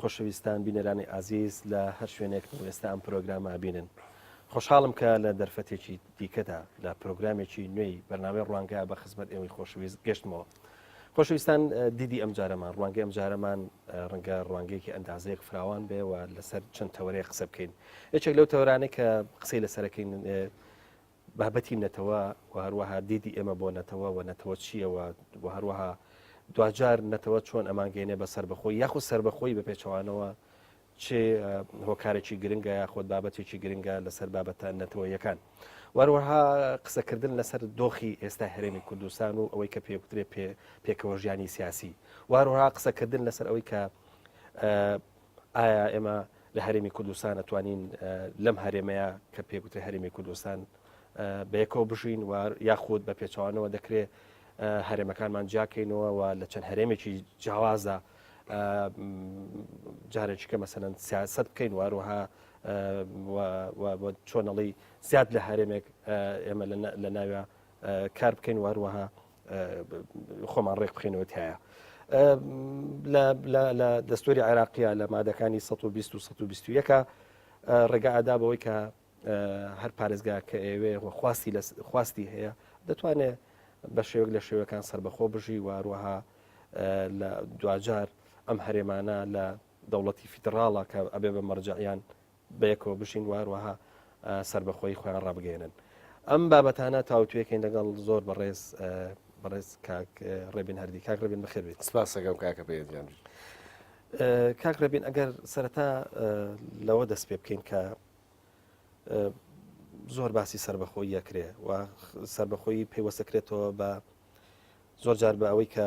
خۆشەویستان بینەرانی ئازیز لە هەر شوێنێکن و ئێستا ئەم پرۆگرامە ئەبینن خۆشحاڵم کە لە دەرفەتێکی دیکەدا لە پرۆگرامێکی نوێی بەرنامەی ڕوانگە بە خزمەت ئێوەی خۆشەویست گەشتمەوە خۆشەویستان دیدی ئەم جارەمان ڕوانگە ئەم جارەمان ڕەنگە ڕوانگەیەکی ئەندازەیەک فراوان بێ و لەسەر چەند تەوەرەیە قسە بکەین یەکێک لەو تەورانە کە قسەی لەسەرەکەین بابەتی نەتەوە و هەروەها دیدی ئێمە بۆ نەتەوە و نەتەوە چییە و و هەروەها دواجار نەتەوە چۆن ئەمانگەێنێ بە سربەخۆی یاخود سربەخۆی بە پێچەوانەوە چ هۆکارێکی گرنگە یاخود بابەتێکی گرنگە لەسەر بابەتە نەتەوەیەکان وەروەها قسەکردن لەسەر دۆخی ئێستا هەرێمی کوردستان و ئەوەی کە پێکترێ پێکەوە ژیانی سیاسی وەروەها قسەکردن لەسەر ئەوەی کە ئایا ئێمە لە هەرێمی کوردستان ئەتوانین لەم هەرێمەیە کە پێگوترێ هەرێمی کوردستان بەیەکەوە بژین و یاخود بە پێچوانەوە دەکرێ هەرێمەکانمان جیاکەینەوە و لە چەند هەرێمێکی جیاوازدا جارێکیکە مەسەەن سیاست بکەین واروها چۆنەڵی زیاد لە هەرێمێک ئێمە لە ناوە کار بکەین واروها خۆمان ڕێک بخێنەوە تایە. لە دەستوری عێراقیە لە مادەکانی 1920ەکە ڕێگا ئادا بەوەی کە هەر پارێزگا کە ئێوێ خواستی خواستی هەیە دەتوانێت بە شێوک لە شێوەکان سربەخۆ بژی واروەها لە دوجار ئەم هەرێمانە لە دەوڵەتی فیدراڵە کە ئەبێ بە مەرجعیان بەیەکەوە بژین و هەروەها سەربەخۆیی خۆیان ڕابگەێنن ئەم بابەتانە تاوتوێکەین لەگەڵ زۆر بەڕێز بەڕێز کاک ڕێبین هەردی کاک ڕێبین بەخێر بێت سپاسەکەم کاکە پێدیان کاک ڕێبین ئەگەر سەرەتا لەوە دەست پێ بکەین کە زۆر باسی سربەخۆی یەکرێ و سربەخۆی پەیوەستەکرێتەوە بە زۆر جار بە ئەوەی کە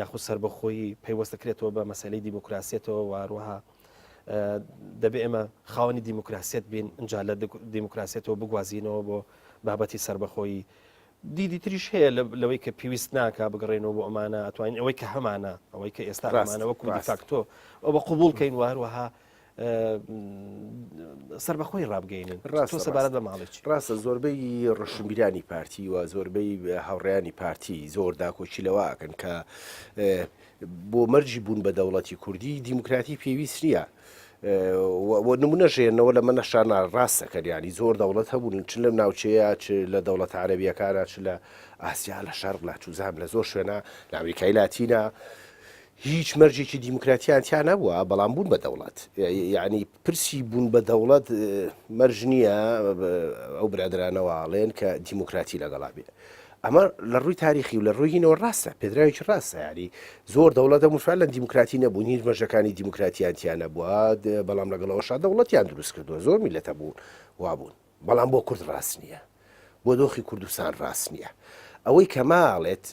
یاخود سربەخۆیی پەیوەستە کرێتەوە بە مەسلەی دیموکراسیەتەوە واروها دەبێ ئێمە خاوەنی دیموکراسیت بین ئەجا لە دیموکراسیەتەوە بگوازینەوە بۆ بابەتی سربەخۆیی دیدی تریش هەیە لەوەی کە پێویست ناکە بگەڕێنەوە بۆ ئەمانە ئەتوانین ئەوەی کە هەمانە ئەوەی کە ئێستا ئەمانەوە کوردی فاکتۆ ئەوە قوبول کەین وهروەها سربەخۆی ڕابگەینن ڕاستە سەبارەت بە ماڵێک ڕاستە زۆربەی ڕشنبیرانی پارتی و زۆربەی هاوڕێیانی پارتی زۆر داکۆکی لەواکەن کە بۆ مەرجی بوون بە دەوڵەتی کوردی دیموکراتی پێویست نییە. نمونە ژێنەوە لە منە شانە ڕاستەکەریانی زۆر دەوڵەت هەبوون چ لەم ناوچەیە چ لە دەوڵەت عربیەکانە چ لە ئاسیا لە شەر لە چوزان لە زۆر شوێنە لە ئەمریکای لاتینە هیچ مەرجێکی دیموکراتیان تیا نەبووە بەڵام بوون بە دەوڵەت یعنی پرسی بوون بە دەوڵەت مەرج نییە ئەو برادرانەواڵێن کە دیموکراتی لەگەڵا بێ ئەمە لە ڕووی تاریخی و لە ڕووینەوە ڕاستە پێدراوێکی ڕاستە یاری زۆر دەوڵەتە موسوال لە دیموکراتی نەبوون هیچ مەژەکانی دیموکراتیان تیا نەبووە بەڵام لەگەڵەوەشا دەوڵەتیان دروست کردووە زۆر میلەتە بوون وابوون بەڵام بۆ کورد ڕاست نییە بۆ دۆخی کوردستان ڕاست نییە ئەوەی کەماڵێت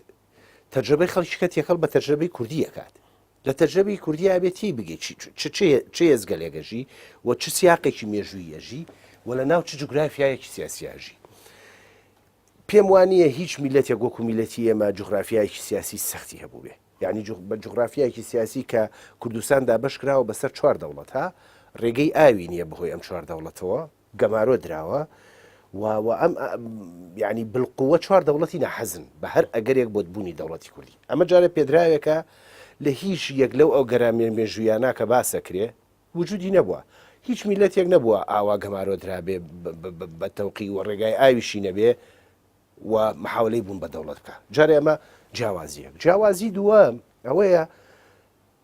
تەرجەمەی خەڵکیکە تێکەڵ بە تەرجەمەی کوردی ئەکات لە تەرجەمەی کوردی ئەبێت تی بگەیت چ هێزگەلێگەژی و چ سیاقێکی مێژووی یەژی و لە ناو چ جوگرافایەکی سیاسیاژی پێم وانە هیچ میلەتێک وەکو میلەتی ئێمە جوگرافایەکی سیاسی سەختی هەبوو بێ یعنی بە جوگرافایەکی سیاسی کە کوردستاندا بەشکراوە بەسەر چوار دەوڵەت ها ڕێگەی ئاوی نییە بەهۆی ئەم چوار دەوڵەتەوە گەمارۆ دراوە و و ئەم ئە یانی بالقوە چوار دەوڵەتی ناحەزن بە هەر ئەگەرێک بۆت بوونی دەوڵەتی کوردی ئەمە جارێ پێدراوێکە لە هیچ یەک لەو ئەو گەرا مێ مێژوویانە کە باسە کرێ وجودی نەبووە هیچ میلەتێک نەبووە ئاوا گەمارۆ درابێ بە تەوقی و ڕێگای ئاویشی نەبێ و محاولەی بوون بە دەوڵەت بکە جارێ ئەمە جیاوازیەک جیاوازی دووە ئەوەیە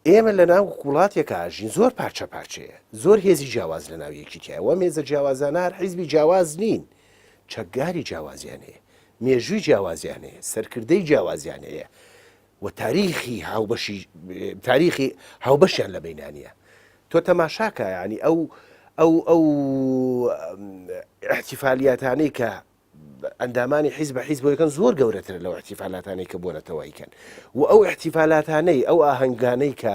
ئێمە لە ناو وڵاتێکا ئەژین زۆر پارچە پارچەیە، زۆر هێزی جیاواز لە ناو یەکی تیایە، وەم هێزە جیاوازانە هەر حیزبی جیاواز نین، چەکداری جیاوازیان هەیە، مێژووی جیاوازیان هەیە، سەرکردەی جیاوازیان هەیە و تاریخی هاوبەشی تاریخی هاوبەشیان لە بەینانە. تۆ تەماشاکە یانی ئەو ئەو ئەو ئیحتیفالیاتانەی کە ئەندامانی حیز بە حیز بۆ یەکەن زۆر گەورەترە لەو احتیفالاتانەی کە بۆ نەتەوە ئەیکەن و ئەو احتیفالاتانەی ئەو ئاهەنگانەی کە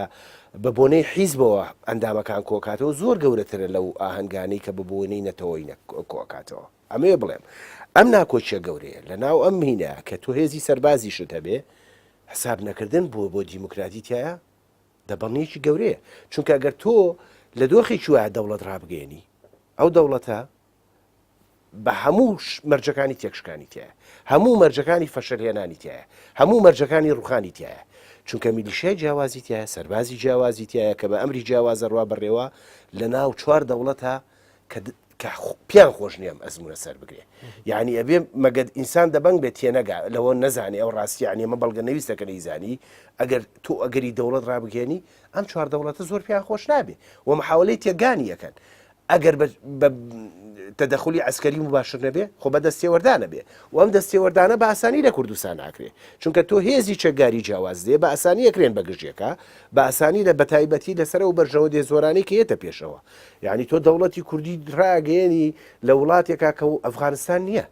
بە بۆنەی حیزبەوە ئەندامەکان کۆکاتەوە زۆر گەورەترە لەو ئاهەنگانەی کە بە بۆنەی نەتەوەی کۆکاتەوە ئەمەیە بڵێم ئەم ناکۆچە گەورەیە لە ناو ئەم مینە کە تۆ هێزی سەربازی شت هەبێ حساب نەکردن بۆ بۆ دیموکراتی تایە دەبڵنیەکی گەورەیە چونکە گەر تۆ لە دۆخێکی وایە دەوڵەت ڕابگەێنی ئەو دەوڵەتە بە هەموو مەرجەکانی تێکشکانی تایە هەموو مەرجەکانی فەشەرهێنانی تایە هەموو مەرجەکانی ڕوخانی تایە چونکە میلیشای جیاوازی تایە سەربازی جیاوازی تایە کە بە ئەمری جیاوازەڕوا بڕێوە لە ناو چوار دەوڵەتە کە پیان خۆش نییەم ئەزمونە سەر بگرێ یعنی ئەبێ مەگەت ئینسان دەبنگ بێت تێنەگا لەوە نەزانانی ئەو ڕاستیان ئمە بەڵگە نەویستەکە نەیزانی ئەگەر تۆ ئەگەری دەوڵەت ڕابگەێنی ئەم چوار دەوڵەتە زۆر پیان خۆش نابێ و مححاولەی تێگانی یەکەن ئەگەر بە بە تەدەخلی عسکەری مباشر نەبێ خۆ بە دەستێوەردانە بێ و ئەم دەستێوەردانە بە ئاسانی لە کوردستان ناکرێ چونکە تۆ هێزی چەکداری جیاواز دێ بە ئاسانی ئەکرێن بە گژێکە بە ئاسانی لە بەتایبەتی لەسەر و بەرژەوە دێ زۆرانی کە یەتە پێشەوە یعنی تۆ دەوڵەتی کوردی ڕاگەیەنی لە وڵاتێکا کە و ئەفغانستان نییە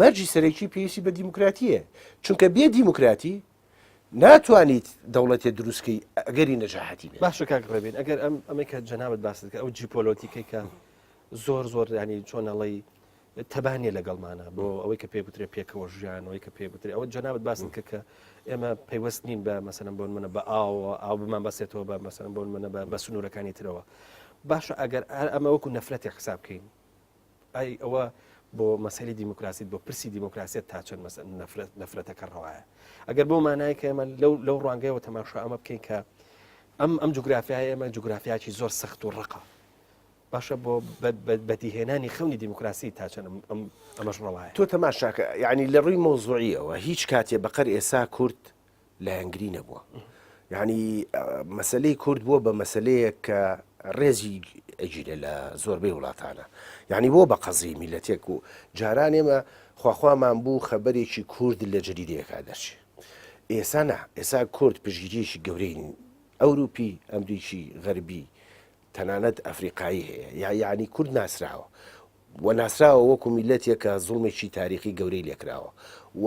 مەرجی سەرەکی پێویستی بە دیموکراتییە، چونکە بێ دیموکراتی ناتوانیت دەوڵەتێ دروستکەی ئەگەری نەجاحەتی بێت. باشە کاک ڕێبین ئەگەر ئەم ئەمەی کە جەنابەت باست کە ئەو جیپۆلۆتیکەی کە زۆر زۆر ینی چۆن ئەڵی تەبانیە لەگەڵمانە بۆ ئەوەی کە پێ بترێ پێکەوە ژیانەوەی کە پێ بترێ ئەوە جەنابەت باست کە کە ئێمە پەیوەست نین بە مەسەن بۆن منە بە ئاوە ئاو بمان بەسێتەوە بە مەسەن بۆن منە بە بە سنوورەکانی ترەوە باشە ئەگەر ئەمە وەکو نەفرەتی حساب بکەین ئای ئەوە بۆ مەسەلی دیموکراسیت بۆ پرسی دیموکراسیت تا چەند نەفرەتەکە ڕەوایە ئەگەر بۆ مانای کە ئێمە لەو لەو ڕوانگەیەوە تەماشا ئەمە بکەین کە ئەم ئەم جوگرافیای ئێمە جوگرافیاکی زۆر سەخت و ڕقە باشە بۆ بەدیهێنانی خەونی دیموکراسی تا چەند ئەمەش ڕەوایە تۆ تەماشاکە یعنی لە ڕووی مۆزوعیەوە هیچ کاتێ بەقەر ئێسا کورد لایەنگری نەبووە یعنی مەسلەی کورد بووە بە مەسلەیەک کە ڕێزی ئەگیرە لە زۆربەی وڵاتانە یعنی بۆ بە قەزی میلەتێک و جاران ئێمە خواخوامان بوو خەبەرێکی کورد لە جەریدەیەکا دەرچێ ئێسا نا ئێسا کورد پشگیریەکی گەورەی ئەوروپی ئەمریکی غەربی تەنانەت ئەفریقایی هەیە یا یعنی کورد ناسراوە و ناسراوە وەکو میلەتێکە زوڵمێکی تاریخی گەورەی لێکراوە و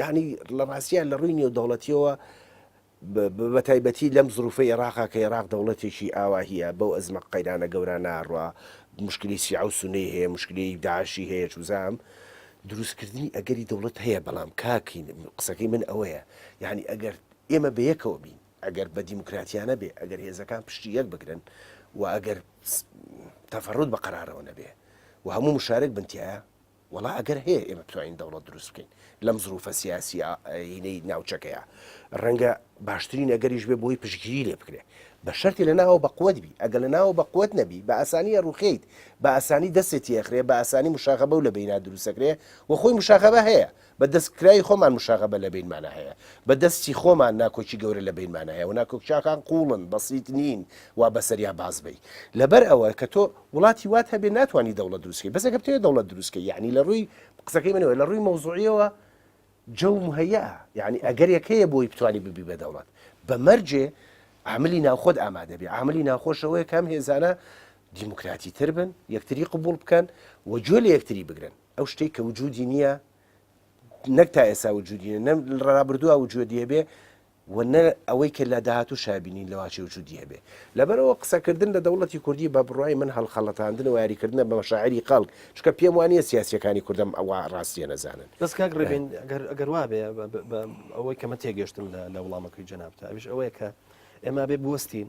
یەعنی لە ڕاستیا لە ڕووی نێودەوڵەتیەوە بەتایبەتی لەم زروفی عێراقا کە عێراق دەوڵەتێکی ئاواهە بەو ئەزمە قەیرانە گەورە ناڕوا مشکلی سیع و سنەی هەیە مشکلی داعشی هەیە چوزام دروستکردنی ئەگەری دەوڵەت هەیە بەڵام کاکین قسەکەی من ئەوەیە یعنی ئەگەر ئێمە بەیەکەوە بین ئەگەر بە دیموکراتیانە بێ ئەگەر هێزەکان پشتی یەک بگرن و ئەگەر تەفرود بە قەرارەوە نەبێ و هەموو مشارێک بنتیایە وەڵا ئەگەر هەیە ئێمە بتوانین دەوڵەت دروست بکەین لەم زروفە سیاسیینەی ناوچەکەیە ڕەنگە باشترین ئەگەریش بێ بۆی پشگیری لێ بکرێ بە شەرتی لە ناوە بەقوت بی ئەگە لە ناوە بەقوت نەبی بە ئاسانیە ڕوخیت بە ئاسانی دەستێتی ئەخرێ بە ئاسانی مشاغە بەو لە بینا دروستەکرێ و خۆی مشاغەبە هەیە بە دەست کرای خۆمان مشاغبە لە بینمانا هەیە، بە دەست چی خۆمان ناکۆکی گەورە لە بینمانا هەیە و ناکۆکیاکان قووڵن، بەسیت نین وا بە سەریا باز بەی. لەبەر ئەوە کە تۆ وڵاتی وات هەبێ ناتوانی دەوڵەت دروست کەی، بەس ئەگەر بتەوێ دەوڵەت دروست کەی یانی لە ڕووی قسەکەی منەوە لە ڕووی مەوزووعیەوە جەو مهەیەئە یانی ئەگەرێک هەیە بۆی بتوانی ببی بە دەوڵەت بە مەرجێ عاملی ناو خۆت ئامادە بی، عاملی ناوخۆش ئەوەیە کە ئەم هێزانە دیموکراتی تر بن، یەکتری قبووڵ بکەن و گوێ لە یەکتری بگرن. ئەو شتەی کە وجودی نییە نەک تا ئێسا وجودی نیە نە ڕابردووە وجودی هەبێ و نە ئەوەی کە لە داهاتوو شابینین لەواچی وجودی هەبێ لەبەرەوە قسەکردن لە دەوڵەتی کوردی بە بڕای من هەڵخەڵەتاندن و یاریکردنە بە شاعری خەڵک چکە پێم وانە سیاسەکانی کوردم ئەوە ڕاستیە نەزانن بەس کاک ڕێبین گەر وابێ ئەوەی کەمە تێگەشتم لە وڵامەکەی جەنابتە ئەوش ئەوەیە کە ئێمە بێ بستین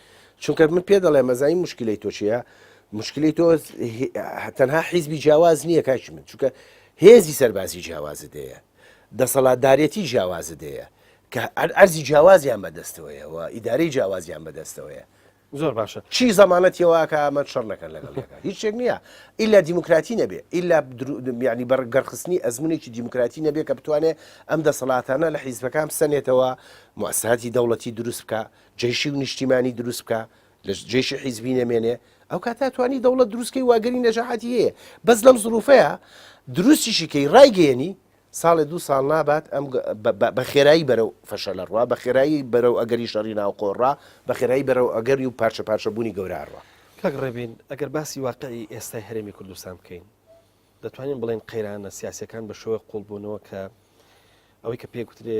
چونکە من پێ دەڵێ مەزای مشکلی تۆ چیە مشکلی تۆ تەنها حیزبی جیاواز نییە کاش من چونکە هێزی سەربازی جیاوازە دەیە دەسەڵاتدارەتی جیاوازە دەیە کە ئەرزی جیاوازیان بەدەستەوەیە و ئیدارەی جیاوازیان بەدەستەوەیە زۆر باشە چی زمانەت یەوەکە ئەمە شەڕ نەکەن لەگەڵ یەکە هیچ شتێک نییە ئیلا دیموکراتی نەبێ ئیلا ینی بەر گەرخستنی ئەزمونێکی دیموکراتی نەبێ کە بتوانێت ئەم دەسەڵاتانە لە حیزبەکان بسەنێتەوە موساتی دەوڵەتی دروست بکە جەیشی و نیشتیمانی دروست بکا لە جەیشی حیزبی نەمێنێ ئەو کات ناتوانانی دەوڵەت دروستکەی واگەری نەجاحەتی هەیە بەس لەم زروفەیە دروستیشی کەی ڕایگەیەنی ساڵێ دوو ساڵ نابات ئەم بە خێرایی بەرەو فەشە لە ڕوا بە خێرایی بەرەو ئەگەری شەڕی ناوخۆڕا بە خێرایی بەرەو ئەگەری و پارچە پارچەبوونی گەورەڕە کاک ڕێبین ئەگەر باسی واقعی ئێستای هەرێمی کوردستان بکەین دەتوانین بڵێن قەیرانە سیاسەکان بە شێوەی قوڵبوونەوە کە ئەوەی کە پێگوترێ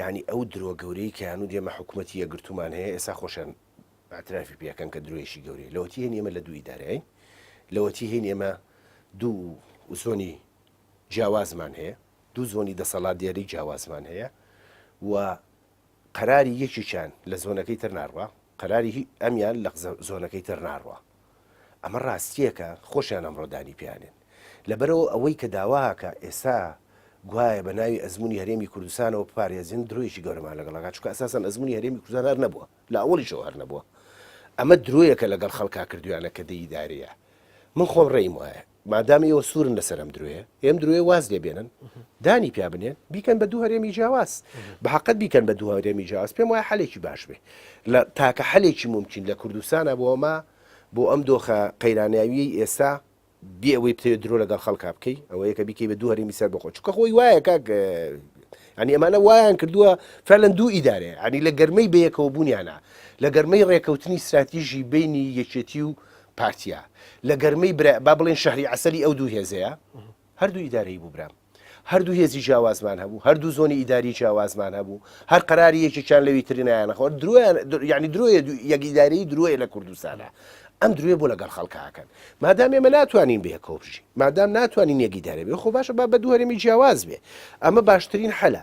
یانی ئەو درۆ گەورەی کە هەنوو دێمە حکومەتی یەکگرتوومان هەیە ئێسا خۆشیان اعترافی پێ ئەکەن کە درۆیەکی گەورەیە لەوەتی هەین ئێمە لە دوو ئیدارەین لەوەتی هەین ئێمە دوو زۆنی جیاوازمان هەیە دوو زۆنی دەسەڵات دیاری جیاوازمان هەیە و قەراری یەکێکیان لە زۆنەکەی تر ناڕوا قەراری ئەمیان لە زۆنەکەی تر ناڕوا ئەمە ڕاستیەکە خۆشیان ئەمڕۆ دانی پێیانێن لەبەرئەوە ئەوەی کە داواکە ئێستا گوایە بە ناوی ئەزمونی هەرێمی کوردستانەوە بپارێزین درۆیەکی گەورەمان لەگەڵ ئەکات چونکە ئەساسەن ئەزمونی هەرێمی کوردستان هەر نەبووە لە ئەوەڵیشەوە هەر نەبووە ئەمە درۆیەکە لەگەڵ خەڵکا کردویانە کە دەیدارەیە من خۆم ڕێیم وایە مادام ئێوە سوورن لەسەر ئەم درۆیە ئێم درۆێ واز لێ بێنن دانی پیا بنێن بیکەن بە دوو هەرێمی جیاواز بە حقت بیکەن بە دوو هەرێمی جیاواز پێم وای حلێکی باش بێ لە تاکە حلێکی ممکن لە کوردستانە بۆ ئەمە بۆ ئەم دۆخە قەیراناویی ئێستا بێ ئەوەی بتێ درۆ لەگەڵ خەڵکا بکەی ئەوە یەکە بیکەی بە دوو هەرێمی سەر بخۆ چکە خۆی وایە کاک ئەنی ئەمانە وایان کردووە فەلەن دوو ئیدارێ ئەنی لە گەرمەی بەیەکەوە بوونیانە لە گەرمەی ڕێکەوتنی استراتیژی بینی یەکێتی و پارتیە لە گەرمەی برا با بڵێن شەهری عسەلی ئەو دوو هێزەیە هەردوو ئیدارەی بوو برام هەردوو هێزی جیاوازمان هەبوو هەردوو زۆنی ئیداری جیاوازمان هەبوو هەر قراری یەکێکیان لەوی ترینایان خۆر درۆیان یعنی درۆیە یەکیداری درۆیە لە کوردستانە ئەم دروێ بۆ لەگەڵ خەڵکاکەن مادام ئێمە ناتوانین بێ کۆبژی مادام ناتوانین یەکیدارە بێ خۆ باشە با بە دوو هەرێمی جیاواز بێ ئەمە باشترین حەلە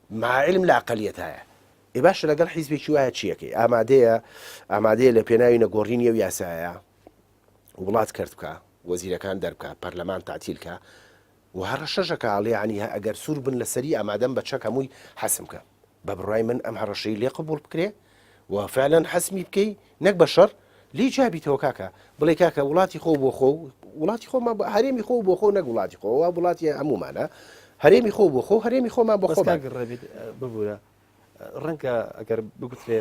مع علم لە ئەقەلیەتایە. ئێ باشە لەگەڵ حیزبێکی وایە چی ئەکەی؟ ئامادەیە ئامادەیە لە پێناوی نەگۆڕینی ئەو یاسایە وڵات کەرت بکا، وەزیرەکان دەربکا، پەرلەمان تەعتیل کا و هەڕەشەش ئەکا ئەڵێ یانی ئەگەر سوور بن لەسەری ئامادەم بە چەک هەمووی حەسم بکەم. بە بڕوای من ئەم هەڕەشەی لێ قبووڵ بکرێ، و فعلەن حەسمی بکەی نەک بە شەڕ لی جابیتەوە کاکە بڵێ کاکە وڵاتی خۆ بۆ خۆ وڵاتی خۆمان بە هەرێمی خۆ بۆ خۆ نەک وڵاتی خۆەوە وڵاتی هەمومانە هەرێمی خۆ بۆ خۆ هەرێمی خۆمان بە خۆ ڕێبێت ببوورە ڕەنکە ئەگەر بگوترێ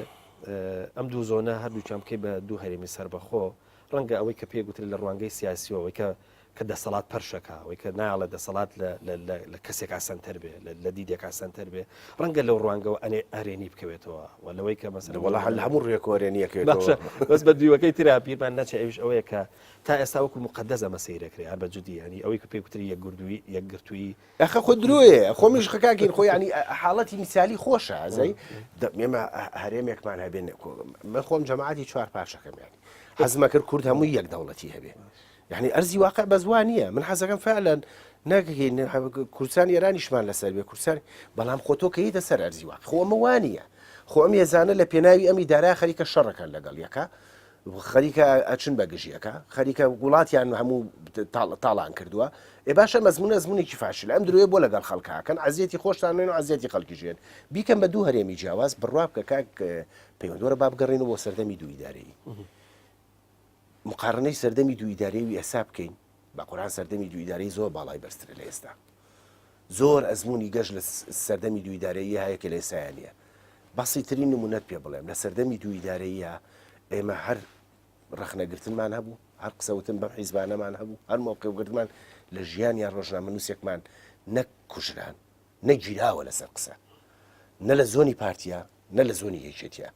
ئەم دوو زۆنە هەردووچان بکەی بە دوو هەرێمی سەربەخۆ ڕەنگە ئەوەی کە پێ گوتر لە ڕوانگەی سیاسیەوەی کە کە دەسەڵات پەرشەکا، ئەوەی کە نایەڵێ دەسەڵات لە کەسێکا سەنتەر بێ، لە دیدێکا سەنتەر بێ، ڕەنگە لەو ڕوانگەوە ئەرێنی بکەوێتەوە و لەوەی کە مەسەلە وەڵا هەر لە هەموو ڕوویەکەوە ئەرێنی ئەکەوێتەوە. بەس بە دیوەکەی ترا بیرمان نەچێ ئەویش ئەوەیە کە تا ئێستا وەکوو موقەدەس ئەمە سەیر ئەکرێ هەر بە جدی یانی ئەوەی کە پێی گوتری یەکگردووی یەکگرتوویی. ئەخە خۆ درۆیە خۆ مژ خە کاکین خۆ یانی حاڵەتی میسالی خۆشە ئازای ئێمە هەرێمێکمان هەبێ من خۆم جەماعەتی چوار پارچەکەم یانی حەزمە کرد کورد هەمووی یەک دەوڵەتی هەبێ. یانی ئەرزی واقع بەس وا نییە من حەزەکەم فعلەن نەگەین کوردستان ئێرانیشمان لەسەر بێ کورسان بەڵام خۆتۆ کەیتە سەر ئەرزی واقع خۆمە وانە خۆم ێزانە لە پێناوی ئەمی دارا خەریکە شەڕەکان لەگەڵ یەکە خەریکە ئەچن بە گژیەکە خەریکە وڵاتیان هەموو تاڵان کردووە ئێ باشە مەزمونە زمونێکی فاشل ئەم درێ بۆ لەگەڵ خەڵکەکەن عزیەتی خۆشتان نوێن و عزیەتی خەڵکی ژێن بیکەم بە دوو هەرێمی جیاواز بڕوا بکە کاک پەیوەندۆرە بابگەڕین و بۆ سەردەمی دوویدارەی. مقارنەی سەردەمی دوو ئیدارەی و ئێسا بکەین بە قورعان سەردەمی دوو ئیدارەی زۆر باڵای بەرزترە لە ئێستا زۆر ئەزمونی گەشت لە سەردەمی دوو ئیدارەیی هەیە کە لە ئێستایان نیە بەسی ترین نمونەت پێ بڵێم لە سەردەمی دوو ئیدارەییە ئێمە هەر ڕخنەگرتنمان هەبوو هەر قسەوتن بەم حیزبانەمان هەبوو هەر مۆقیوگرتمان لە ژیان یا ڕۆژنامە نووسێکمان نەک کوژران نەگیراوە لەسەر قسە نە لە زۆنی پارتیا نە لە زۆنی یەکێتیە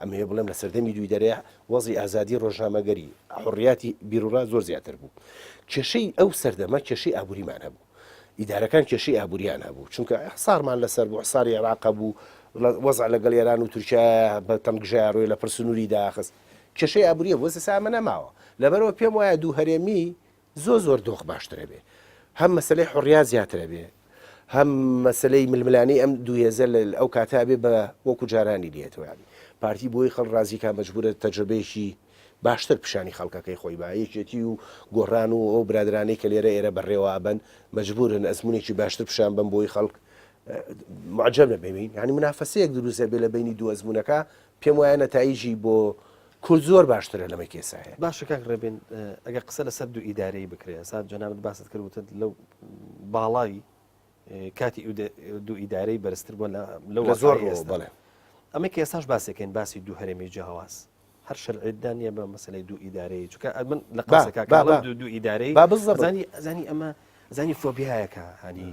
ئەمە هەیە بڵێم لە سەردەمی دووی دەرێ وەزی ئازادی ڕۆژنامەگەری حڕیاتی بیرورا زۆر زیاتر بوو کێشەی ئەو سەردەمە کێشەی ئابووریمان هەبوو ئیدارەکان کێشەی ئابووریان هەبوو چونکە حسارمان لەسەر بۆ حساری عێراق بوو وەزع لەگەڵ ئێران و تورکیا بە تەمگژە ڕۆی لە پرسنووری داخست کێشەی ئابووریە بۆ سامە نەماوە لەبەرەوە پێم وایە دوو هەرێمی زۆر زۆر دۆخ باشتر ئەبێ هەم مەسەلەی حوڕیا زیاتر ئەبێ هەم مەسەلەی ململانێی ئەم دوو هێزە لە ئەو کاتە ئەبێ بە وەکوو جارانی دی ئێتەوە یانی پارتی بۆی خەڵک ڕازی کا مەجبوورە تەجرەبەیەکی باشتر پیشانی خەڵکەکەی خۆی با یەکێتی و گۆڕان و ئەو برادەرانەی کە لێرە ئێرە بەڕێوە ئەبەن مەجبوورن ئەزموونێکی باشتر پیشان بەن بۆی خەڵک معجەب نەبێ یانی منافەسەیەک دروست ئەبێ لە بەینی دوو ئەزموونەکە پێم وایە نەتایجی بۆ کورد زۆر باشترە لەمەی کە ئێستا هەیە. باشە کاک ڕێبین ئەگەر قسە لەسەر دوو ئیدارەیی بکرێ ئێستا جەنابت باست کرد وتت لەو باڵای کاتی دوو ئیدارەی بەرزتر بووە لە زۆر ئێستا بڵێ ئەمە کە ئێستاش باسێکەین باسی دوو هەرێمی جیاواز هەر شەرعێتدا نییە بە مەسلەی دوو ئیدارەیە چکە من لە قاسەکە دوو ئیدارەی بە بزەزانی ئەمە زانی فۆبیایەکە هەنی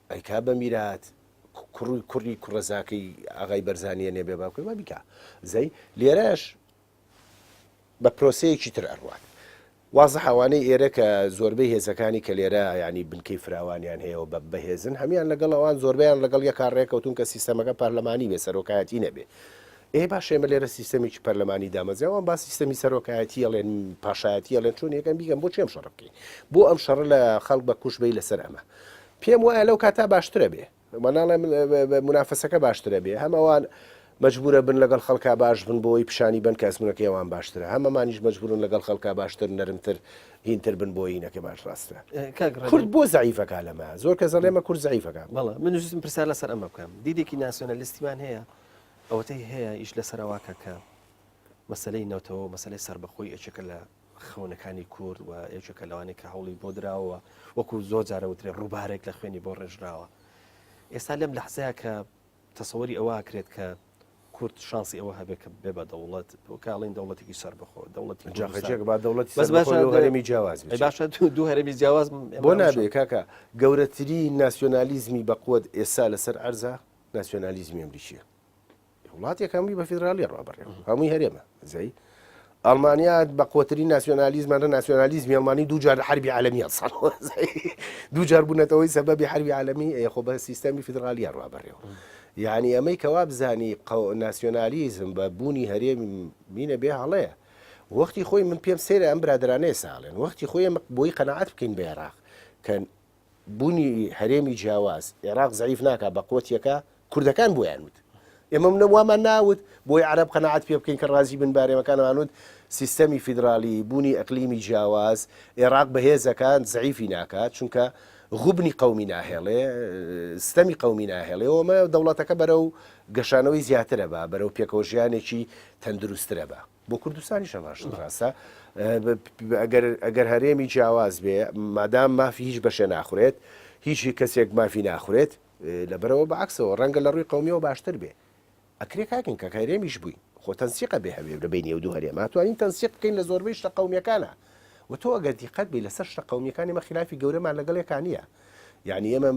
ئەی کابە میرات کوڕی کوڕی کوڕە زاکەی ئاغای بەرزانیە نێ بێ باوکەی وا بیکا زەی لێرەش بە پرۆسەیەکی تر ئەڕوات وازە حوانەی ئێرە کە زۆربەی هێزەکانی کە لێرە ینی بنکەی فراوانیان هەیە و بە بەهێزن هەمان لەگەڵ ئەوان زۆربیان لەگەڵ یەکا ڕێکەوتون کە سیستەمەکە پەرلەمانی بێ سەرۆکایەتی نەبێ ئێ باشە ئێمە لێرە سیستەمێکی پەرلەمانی دامەزرا وان با سیستەمی سەرۆکایەتی ئەڵێن پاشایەتی ئەڵێن چۆن یەکەم بیگەم بۆ چێم شەڕ بکەین بۆ ئەم شەڕ لە خەڵک بە کوش بی لەسەر ئەمە پێم وایە لەو کاتا باشترە بێ مەناڵێ منافەسەکە باشترە بێ هەم ئەوان مجبورە بن لەگەڵ خەڵکا باش بن بۆی پیشانی بن کە ئەزمونەکەی ئەوان باشترە هەمەمانیش مجبورن لەگەڵ خەڵکا باشتر نەرمتر هینتر بن بۆینەکە باش ڕاستە کورد بۆ زعیفەکە لەمە زۆر کە زەڵێمە کورد زعیفەکە بەڵە من پرسیار لەسەر ئەمە بکەم دیدێکی ناسیۆنەلیستیمان هەیە ئەوەتەی هەیە ئیش لەسەر ئەوەکە کە مەسەلەی نەوتەوە مەسەلەی سربەخۆی یەکێکە لە خەونەکانی کورد و یەکێکە لەوانی کە هەوڵی بۆ دراوە وەکو زۆر جارە وترێ ڕووبارێک لە خوێنی بۆ ڕێژراوە ئێستا لەم لەحزەیە کە تەسەوەری ئەوە کرێت کە کورد شانسی ئەوە هەبێت کە بێ بە دەوڵەت کاڵین دەوڵەتێکی سەر بخۆ دەوڵەتی جاخەجێک با دەوڵەتی هەرێمی جیاواز باشە دوو هەرێمی جیاواز بۆ نابێ کاکە گەورەترین ناسیۆنالیزمی بەقوت ئێستا لەسەر ئەرزە ناسیۆنالیزمی ئەمریکیە وڵاتێک هەمووی بە فیدراالیە ڕابڕێ هەمووی هەرێمە زەی ئەڵمانیا بە قوتری ناسیۆنالیزمانە ناسیۆنالیزمی ئەڵمانی دوجار حربی عالمی ساڵ دوجار بوونەتەوەی سەبەبی حربی عالمی خۆ بە سیستەمی فیدراالیە ڕابڕێەوە یعنی ئەمەی کەوا بزانی ناسیۆنالیزم بە بوونی هەرێمی مینە بێ هەڵەیە وەختی خۆی من پێم سێرە ئەم برادرانەیە ساڵێن وەختی خۆی بۆی قەنەعات بکەین بە عێراق کە بونی هەرێمی جیاواز ئێراق زەعیف ناکات بە قوت یەکە کوردەکان بۆیان وت ئێمە منە وامان ناوت بۆی عەرەب قەناعەت پێ بکەین کە ڕازی بن بارێمەکانمان وت سیستەمی فیدرالی بوونی ئەقلیمی جیاواز ئێراق بەهێزەکان زەعیفی ناکات چونکە غبنی قومی ناهێڵێ ستەمی قومی ناهێڵێ ئەومە دەوڵەتەکە بەرە و گەشانەوەی زیاترە بە بەرەو پێکەوە ژیانێکی تەندروسترە بە بۆ کوردستانیش هەماش ڕاستە ئەگەر هەرێمی جیاواز بێ مادام مافی هیچ بەشێ ناخورێت هیچی کەسێک مافی ناخورێت لەبەرەوە بەعکسەوە ڕەنگە لە ڕووی قومیەوە باشتر بێ ئەکرێ کاکن کە هەرێمیش بووین خۆ تەنسیقە بێ هەوێ لە بینی و دوو هەرێما توانین تەنسیق بکەین لە زۆربەی شتە قومیەکانە و تۆ ئەگەر دیقەت بی لەسەر شتە قومیەکانی مە خلافی گەورەمان لەگەڵێکانە یعنی ئێمە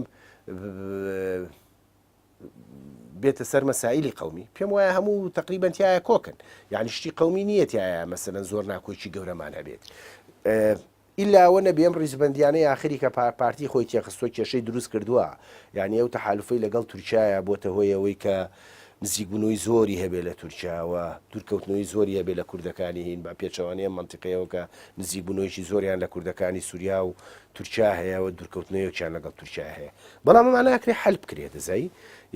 بێتە سەر مەسائلی قومی پێم وایە هەموو تقریبان تایە کۆکن یعنی شتی قومی نییە تایە مەسەن زۆر ناکۆکی گەورەمان هەبێت. ئیلاوە نەبێم ڕیزبندیانە یاخری کە پارتی خۆی تێخستۆ کێشەی دروست کردووە یعنی ئەو تەحالفی لەگەڵ تورکایە بۆتە هۆیەوەی کە نزیکبوونەوەی زۆری هەبێ لە تورکیاوە دوورکەوتنەوەی زۆری هەبێ لە کوردەکانی هین بە پێچەوانەیە منتیقەیەوە کە نزیکبوونەوەیکی زۆریان لە کوردەکانی سووریا و تورکیا هەیەەوە دوورکەوتنەوەیەکیان لەگەڵ تورکیا هەیە بەڵام ئەمە ناکرێ حەل بکرێ دزەی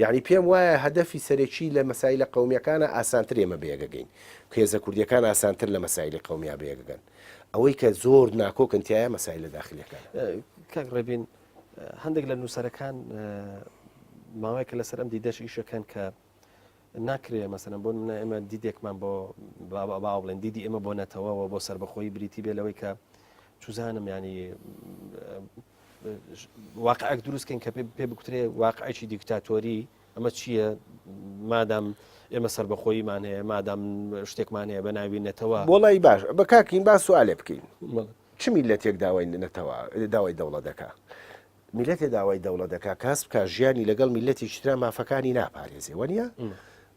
یانی پێم وایە هەدەفی سەرەکی لە مەسایلە قەومیەکانە ئاسانتر ئێمە بەیەکەگەین کێزە کوردیەکان ئاسانتر لە مەسایلی قەومیا بەیەکەگەن ئەوەی کە زۆر ناکۆکن تایە مەسای لە داخلیەکان کاک ڕێبین هەندێک لە نووسەرەکان ماوەیەکە لەسەر ئەم دیدەش ئیشەکەن کە ناکرێ مەسەن بۆ منە ئێمە دیدێکمان بۆ با بڵێن دیدی ئێمە بۆ نەتەوەەوە بۆ سربەخۆی بریتی بێ لەوەی کە چزانم ینی واقعک دروستکەین کە پێ بکترێ واقعێکی دیکتاتۆری ئەمە چییە مادام ئێمە سربەخۆیمان هەیە مادام شتێکمان هەیە بە ناوی نەتەوە بۆڵی باش بە کاکین با سوالێ بکەین چ میلەتێک داوای نەتەوە داوای دەوڵە دەکا میلەتێ داوای دەوڵە دەکا کاس بکە ژیانی لەگەڵ میلەتی شترا مافەکانی ناپارێزێ وەنیە؟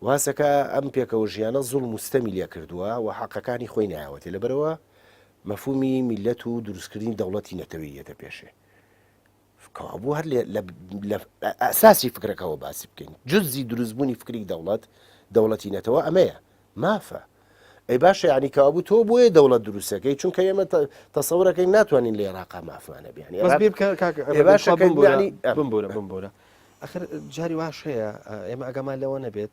واسەکە ئەم پێکەوە ژیانە زوڵ مستەمی لێ کردووە و حەقەکانی خۆی ناوەتێ لەبەرەوە مەفهومی میللەت و دروستکردنی دەوڵەتی نەتەوەیی یەتە پێشێ. کەوابوو هەر لە ئەساسی فکرەکەەوە باسی بکەین جززی دروستبوونی فکری دەوڵەت دەوڵەتی نەتەوە ئەمەیە مافە ئەی باشە ینی کابوو تۆ بۆیە دەوڵەت دروستەکەی چونکە ئێمە تەسەورەکەی ناتوانین لە عێراقا مافمانە بیانی باشەکەبورە بمبورە بمبورە ئەخر جاری واش هەیە ئێمە ئەگەمان لەوە نەبێت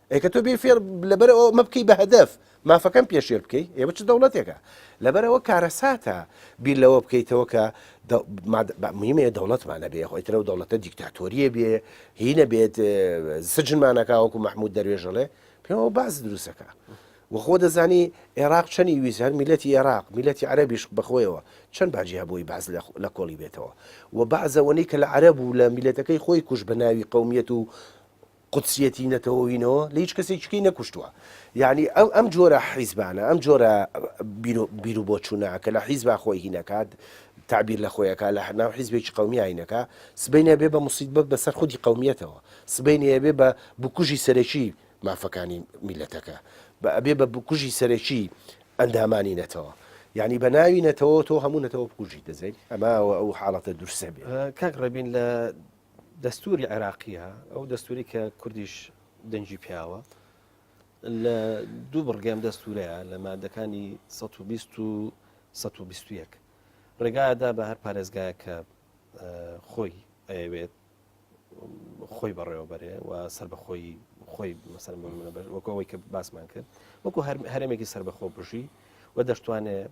ئەی کە تۆ بێ فێر لەبەر ئەوە مە بکەی بە هەدەف مافەکەم پێشێر بکەی ئێوە چ دەوڵەتێکە لەبەر ئەوە کارەساتە بیر لەوە بکەیتەوە کە دە- ماد- بە- مهمەیە دەوڵەتمانە بێ خۆی ترە و دەوڵەتە دیکتاتۆریە بێ هی نەبێت اه، سجنمانەکە وەکو مححمود دەروێژەڵێ پێمەوە باز دروستەکە وەخۆ دەزانی عێراق چەنی ویست هەر میلەتی عێراق میلەتی عەربیش بەخۆیەوە چەند باجی هەبووی باز لە خ- لە کۆڵی بێتەوە و بازەوەنی کە لە عەرب و لە میلەتەکەی خۆی کوش بە ناوی قومیەت و قودسیەتی نەتەوەینەوە لە هیچ کەسێک چکەی نەکوشتووە یعنی ئەو ئەم جۆرە حیزبانە ئەم جۆرە بیر و بۆ چوونە کە لە حیزبا خۆی هینەکات تعبیر لە خۆیەکە لە هەناو حیزبێکی قومیایینەکە سبینە بێ بە مسیید بە بەسەر خودی قومیەتەوە سبینەیە بێ بە بکوژی سەرەکی مافەکانی میلەتەکە بە ئەبێ بە بکوژی سەرەکی ئەندامانی نەتەوە یعنی بە ناوی نەتەوە تۆ هەموو نەتەوە بکوژی دەزێت ئەماوە ئەو حاڵەتە درسە بێ کاک ڕێبین لە دەستوری عێراقیە ئەو دەستوری کە کوردیش دەنجی پیاوە لە دوو بڕگەم دەستورەیە لە مادەکانی 120 و 121 ڕێگادا بە هەر پارێزگایە کە خۆی ئەوێت خۆی بەڕێوەبەرێ و سەر بە خۆی خۆی مەسەر وەکەوەی کە باسمان کرد وەکو هەرمێکی سەر بەخۆ بژی و دەشتوانێت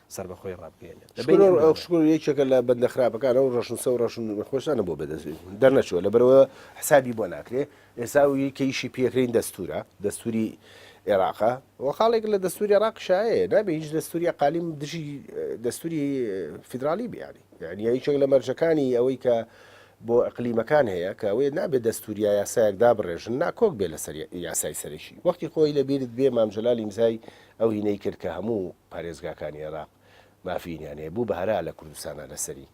سەربەخۆی ڕابگەیەنێت لە بینی ئەو شکور یەکێکە لە بەندە خراپەکان ئەو ڕەشنووسە و ڕەشن خۆشانە بۆ بەدەست دەرنەچوە لە بەرەوە حسابی بۆ ناکرێ ئێستا و یکەیشی پێکرین دەستورە دەستوری عێراقا و خاڵێک لە دەستوری عراق شایە نابێ هیچ دەستوری قالیم دژی دەستوری فیدراالی بیانی یعنی یەکێک لە مەرجەکانی ئەوەی کە بۆ ئەقلیمەکان هەیە کە ئەوەیە نابێ دەستوریا یاسایەکدا بڕێژن ناکۆک بێ لەسەر یاسای سەرەکی وەختی خۆی لەبیرت بێ مامجلال ئیمزای ئەو هینەی کرد کە هەموو پارێزگاکانی عێراق مافییان هەیە بوو بە هەرا لە کوردستانا لەسەری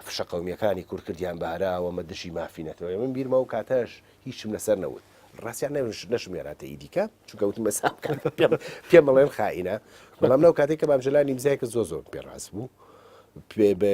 فشە قەومییەکانی کورد کردیان بە هەرا و ئەمە دژی مافی نەتەوەیە من بیرمە ئەو کاتەش هیچم لەسەر نەوت ڕاستیان نەوش نەشمێراتە ئیدیکە چونکە وتم بە سام کات پێم پێم بڵێن خائینە بەڵام لەو کاتێک کە مام جەلالی مزایکە زۆر زۆر پێ ڕاست بوو پێ بە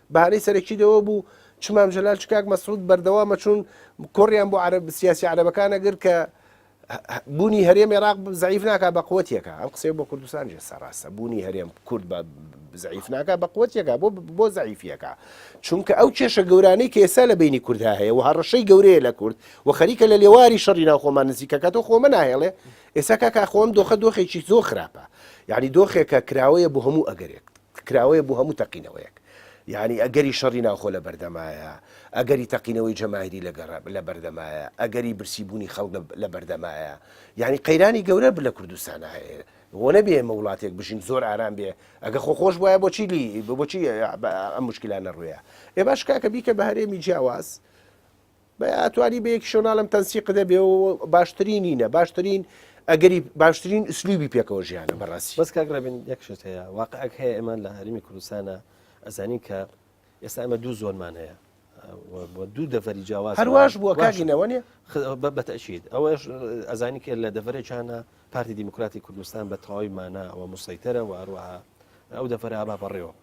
بەهانەی سەرەکی لەوە بوو چ مام جەلال چ کاک مەسعود بەردەوامە چوون کۆڕیان بۆ عەرەب سیاسی عەرەبەکان ئەگرت کە بوونی هەرێم عێراق زەعیف ناکا بە قوتیەکە ئەم قسەی بۆ کوردستان جێستا ڕاستە بوونی هەرێم کورد بە زەعیف ناکا بە قوتیەکە بۆ بۆ زەعیفیەکە چونکە ئەو کێشە گەورانەی کە ئێستا لە بینی کوردها هەیە و هەڕەشەی گەورەیە لە کورد و خەریکە لە لێواری شەڕی ناوخۆمان نزیکەکە تۆ خۆمە ناهێڵێ ئێستا کاکە خۆم دۆخە دۆخێکی زۆر خراپە یعنی دۆخێکە کراوەیە بۆ هەموو ئەگەرێک کراوەیە بۆ هەموو تەقینەوەیەک یانی ئەگەری شەڕی ناوخۆ لە بەردەمایە ئەگەری تەقینەوەی جەماهری لە گەڕ لە بەردەمایە ئەگەری برسی بوونی خەڵک لە بەردەمایە یعنی قەیرانی گەورە بر لە کوردستان هەیە بۆ نەبێ ئمە وڵاتێک بژین زۆر ئارام بێ ئەگە خۆ خۆش وایە بۆچی لی بۆچی ئەم مشکلانە ڕوویە ئێ باش کاکە بیکە بە هەرێمی جیاواز بە ئاتوانی بە یەکی شۆناڵم تەنسی قدە بێ و باشترینینە باشترین ئەگەری باشترین ئسلوبی پێکەوە ژیانە بەڕاستی بەس کاک ڕێبین یەکشت هەیە واقعک هەیە ئەمان لە هەرمی کوردستانە ئەزانین کە ئێستا ئەمە دوو زۆنمان هەیە دوو دەڤری جیاواز هەرواش بووە کاژینەوە نیە بەتەشید ئەوەش ئەزانی کرد لە دەڤەرێکانە پارتی دیموکراتی کوردستان بە تەواوی مانە ئەوە مسەیتەرە و هەروەها ئەو دەفرە با بەڕێوە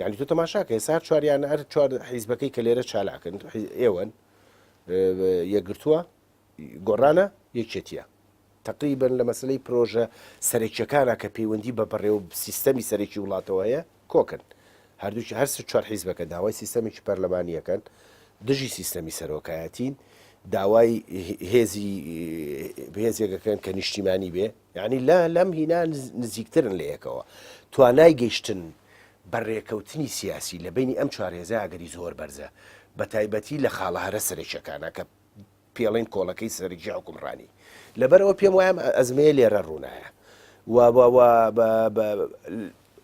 یانی تۆ تەماشاکە ئێستا هەر چواریان هەر چوار حیزبەکەی کە لێرە چالاکن ئێوەن یەکگرتووە گۆڕانە یەکێتیە تقریبن لە مەسلەی پرۆژە سەرەکیەکانە کە پەیوەندی بە بڕێ و سیستەمی سەرەکی وڵاتەوە هەیە کۆکن هەردووچ هەر چوار حیزبەکە داوای سیستەمێکی پەرلەمانیەکەن دژی سیستەمی سەرۆکایەتین داوای هێزی بێزێکەکەن کە نیشتیمانی بێ یانی لە لەم هینا نزیکترن لە یەکەوە توانای گەیشتن بە رێکەوتنی سیاسی لە بینی ئەم چوار هێزە ئەگەری زۆر بەرزە بە تایبەتی لە خاڵە هەرە سەرەکیەکانە کە پێڵین کۆڵەکەی سەرکی حکومڕانی لەبەرەوە پێم وایم ئەزمەیە لێرە ڕوونایە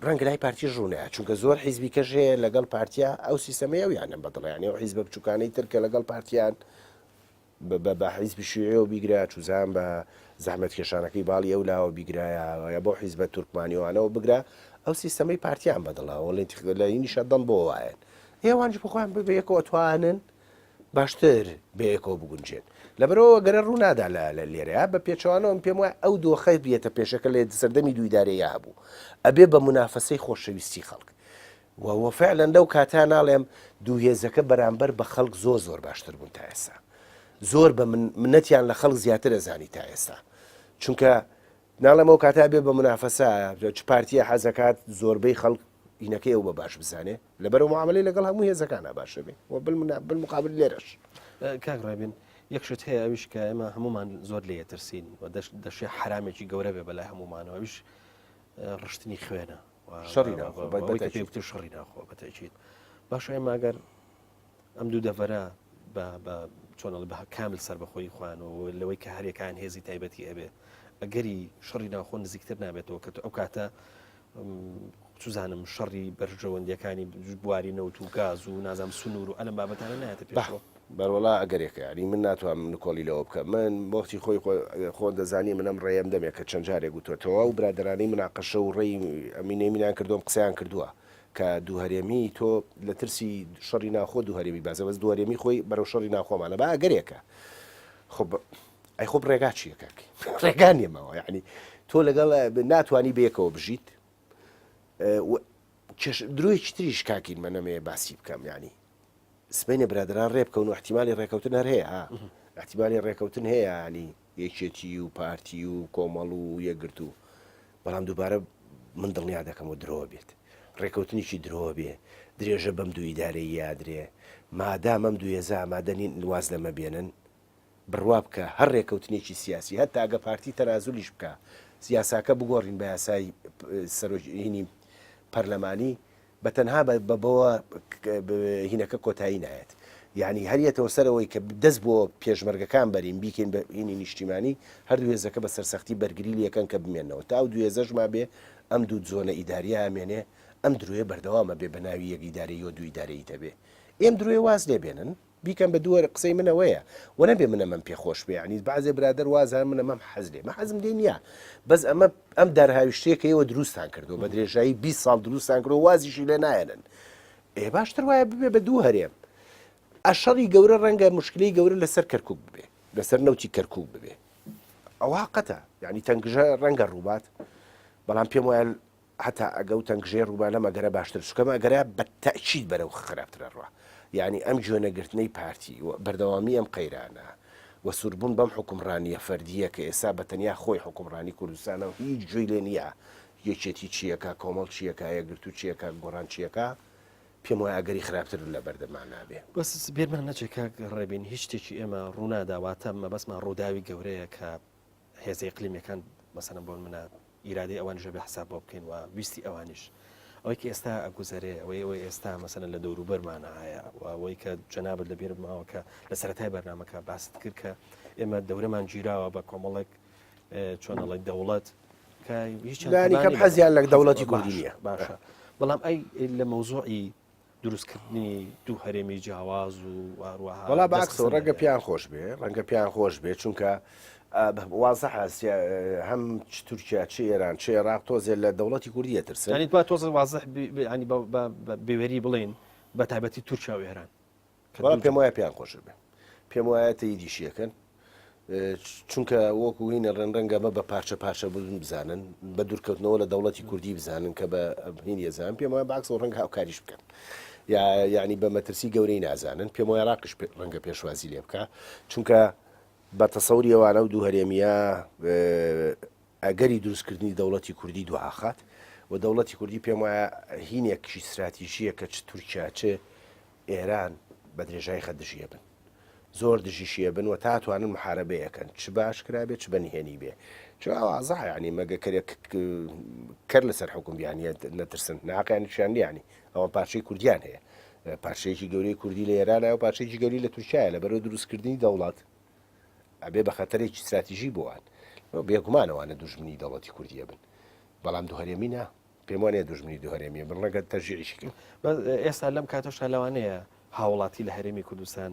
ڕەنگ لای پارتی ڕوونە چونکە زۆر حیزبی کەش هەیە لەگەڵ پارتیا ئەو سیستەمەیە و یانە بەدڵیانەوە حیزب بچووکانی ترکە لەگەڵ پارتیان بە بە حیزبی شیوعیەوە بیگرایە چوزان بە زەحمەتکێشانەکەی باڵی ئەو لاوە بیگرایە یا بەو حیزبە تورکمانیەوانەوە بگرە ئەو سیستەمەی پارتیان بەدڵە وەڵی تیخ لە هینیشە دڵ بۆ وایەن ئێوانش بخۆیان بە بەیەکەوە ئەتوانن باشتر بەیەکەوە بگونجێن لەبەرەوە گەرە ڕوونادا لە لە لێرەیە بە پێچەوانەوە من پێم وایە ئەو دۆخەی بێتە پێشەکە لە سەردەمی دوویدارەیە هەبوو ئەبێ بە منافەسەی خۆشەویستی خەڵک و وە فعلەن لەو کاتە ناڵێم دوو هێزەکە بەرامبەر بە خەڵک زۆر زۆر باشتر بوون تا ئێستا زۆر بە من منەتیان لە خەڵک زیاتر ئەزانی تا ئێستا چونکە ناڵێم ئەو کاتا بێ بە منافەسا چ پارتیە حەزەکات زۆربەی خەڵک هینەکەی ئەو بە باش بزانێ لەبەر و معاملی لەگەڵ هەموو هێزەکانە باشە بێ و بالمقابل لێرەش کاک ڕێبین یەکشت هەیە ئەویش کە ئێمە هەمومان زۆر لێ ترسین و دەشێ حرامێکی گەورە بێ بەلای هەمومانەوەویش ڕشتنی خوێنە شەڕی ناخۆ بە بەوەی کە پێی وتە شەڕی ناخۆ بە تەکیید باشە ئێمە ئەگەر ئەم دوو دەڤەرە چۆنڵ بە کامل سربەخۆی خوانەوە لەوەی کە هەرێکان هێزی تایبەتی ئەبێ ئەگەری شەڕی ناخۆ نزیکتر نابێتەوە کە ئەو کاتە سوزانم شەڕی بەرژەوەندیەکانی بواری نەوت و گاز و نازام سنوور و ئەلم بابەتانە نایەتە پێشەوە بەروەڵا ئەگەرێکە یانی من ناتوانم نکۆڵی لەوە بکەم من بەوەختی خۆی خۆن دەزانی من ئەم ڕێیەم دەمێ کە چەند جارێک وتوە تەواو برادەرانی مناقەشە و ڕێی ئەمینەی مینان کردوم قسەیان کردووە کە دووهەرێمی تۆ لە ترسی شەڕی ناخۆ دووهەرێمی بازە بەس دووهەرێمی خۆی بەرەو شەڕی ناخۆمانە با ئەگەرێکە خب ئەی خۆب ڕێگا چیە کاکی ڕێگا نیەماوە یعنی تۆ لەگەڵ ناتوانانی بەیەکەوە بژیت درۆیەکی تریش کاکین مە نەمەیە باسی بکەم ینی سبینە برادران ڕێ بکەون و احتیممالی ڕێکەوتن هەر هەیە ها احتیممالی ڕێکەوتن هەیە ینی یەکێتی و پارتی و کۆمەڵ و یەکگرت و بەڵام دووبارە من دڵنیا دەکەم و درۆ بێت ڕێکەوتنیی درۆ بێ درێژە بەم دوو ئیدارەی یادرێ مادام ئەم دوێزە ئامادەنین واز لەمە بێنن بڕوا بکە هەر رێکەوتنێکی سیاسی هەر تاگە پارتی تەنازولیش بکا یاساکە بگۆڕین بە یاسای سەرۆک هینی پەرلەمانی بە تەنها بە بەوە هینەکە کۆتایی نایەت یعنی هەریەتەوە سەرەوەی کە دەست بۆ پێشمەرگەکان بەرین بیکەین بە هینی نیشتیمانی هەر دوێزەکە بە سەرسەختی بەرگری لەکەن کە بمێنەوە تا و دوێزەشما بێ ئەم دوو زۆنە ئیداریە ئەمێنێ ئەم درۆیە بەردەوامە بێ بە ناوی یەک ئیدارەیەوە دوو ئیدارەیی تەبێ ئێم درۆیە واز لێ بێنن بیکەن بە دووەرە قسەی من ئەوەیە وە نەبێ من ئەمەم پێ خۆش بێ یانی بەعزێ برادەر وازان من ئەمەم حەز لێ من حەزم لێ نیە بەس ئەمە ئەم دارهاویشتەیە کە ئێوە دروستتان کردووە بە درێژایی بیست ساڵ دروستتان کرد و وازیشی لێ نایەنن ئێ باشتر وایە ببێ بە دوو هەرێم ئە شەڕی گەورە ڕەنگە مشکلەی گەورە لەسەر کەرکک ببێ لەسەر نەوتی کەرکک ببێ ئەوە قەتە یعنی تەنگژە ڕەنگە ڕووبات بەڵام پێم وایە هەتا ئەگە و تەنگژەی ڕوومان لەم ئەگەرە باشتر چونکە ئەم ئەگەرە بە تەئکید بەرەو خراپتر ئەڕوا یانی ئەم گوێ نەگرتنەی پارتی و بەردەوامی ئەم قەیرانە و سووربوون بەم حوکمڕانیە فەردیە کە ئێستا بە تەنیا خۆی حوکمڕانی کوردستانە و هیچ گوێی لێ نیە یەکێتی چی ئەکا کۆمەڵ چی ئەکا یەکگرتوو چی ئەکا گۆڕان چی ئەکا پێم وایە ئەگەری خراپتر لە بەردەمانا بێ. بەس بیرمان نەچێ کاک ڕێبین هیچ شتێکی ئێمە ڕوونادا واتە مەبەستمان ڕووداوی گەورەیە کە هێزە ئیقلیمیەکان مەسەن بۆن منە ئیرادی ئەوان ژەبێ حساب بۆ بکەین و ویستی ئەوانیش ئەوەی کە ئێستا ئەگوزەرێ ئەوەی ئەوەی ئێستا مەسەن لە دەوروبەرمانە هەیە و ئەوەی کە جەنابەت لە بێرماوە کە لە سەرەتای بەرنمەکە باست کرد کە ئێمە دەورەمان گیراوە بە کۆمەڵێک چۆنەڵی دەوڵەت کە هیچ حەزیان لە دەوڵەتی کوردی نیە باشە بەڵام ئەی لە مەوزوعی دروستکردنی دوو هەرێمی جیاواز و واروەها وڵا باکس و ڕەنگە پیان خۆش بێ ڕەنگە پیان خۆش بێ چونکە وازە حسیا هەم تورکیا چ ئێران چ عێراق تۆزێ لە دەوڵەتی کوردیە ترسانی تۆزە وازح بەوێری بڵین بە تایبەتی تورکیا و ئێران بەڵام پێم وایە پێیان خۆشە بێ پێم وایە تەیریشیەکەن چونکە وەکو هینە ڕێنڕەنگەمە بە پارچە پارچە بزن بزانن بە دوورکەوتنەوە لە دەوڵەتی کوردی بزانن کە بە هین یەزان پێم وایە باکس و ڕەنگ هاوکاریش بکەن. یا یعنی بە مەترسی گەورەی نازانن پێم وای ڕاقش ڕەنگە پێشوازی لێ بکە چونکە بە تەسەوری ئەوانە و دوو هەرێمیە ئەگەری دروستکردنی دەوڵەتی کوردی دواخات و دەوڵەتی کوردی پێم وایە هینێکشی ستراتیژیە کە چ تورکیا چ ئێران بە درێژای خە دژیە بن زۆر دژیشیە بن و تا توانن محاربەیەکەن چ باش کرابێت چ بەنهێنی بێ چوازە ینی مەگە کەرێک کەر لەسەر حکوم بیانە نەترسن ناقیانی شان لیانی ئەوە پارچەی کوردیان هەیە پارچەیەکی گەورەی کوردی لە ئێرانە و پارچەیەکی گەوری لە تورکایە لە بەرە دروستکردنی دەوڵات ئەبێ بە خەتەرێکی ستراتیژی بۆ وان و بێگومان ئەوانە دوژمنی دەوڵەتی کوردی ئەبن، بەڵام دوو هەرێمی نا، پێم وانیە دوژمنی دوو هەرێمی ئەبن، ڕەنگە تەشجیعیشی کەن. بەس ئێستا لەم کاتەشدا لەوانەیە هاوڵاتی لە هەرێمی کوردستان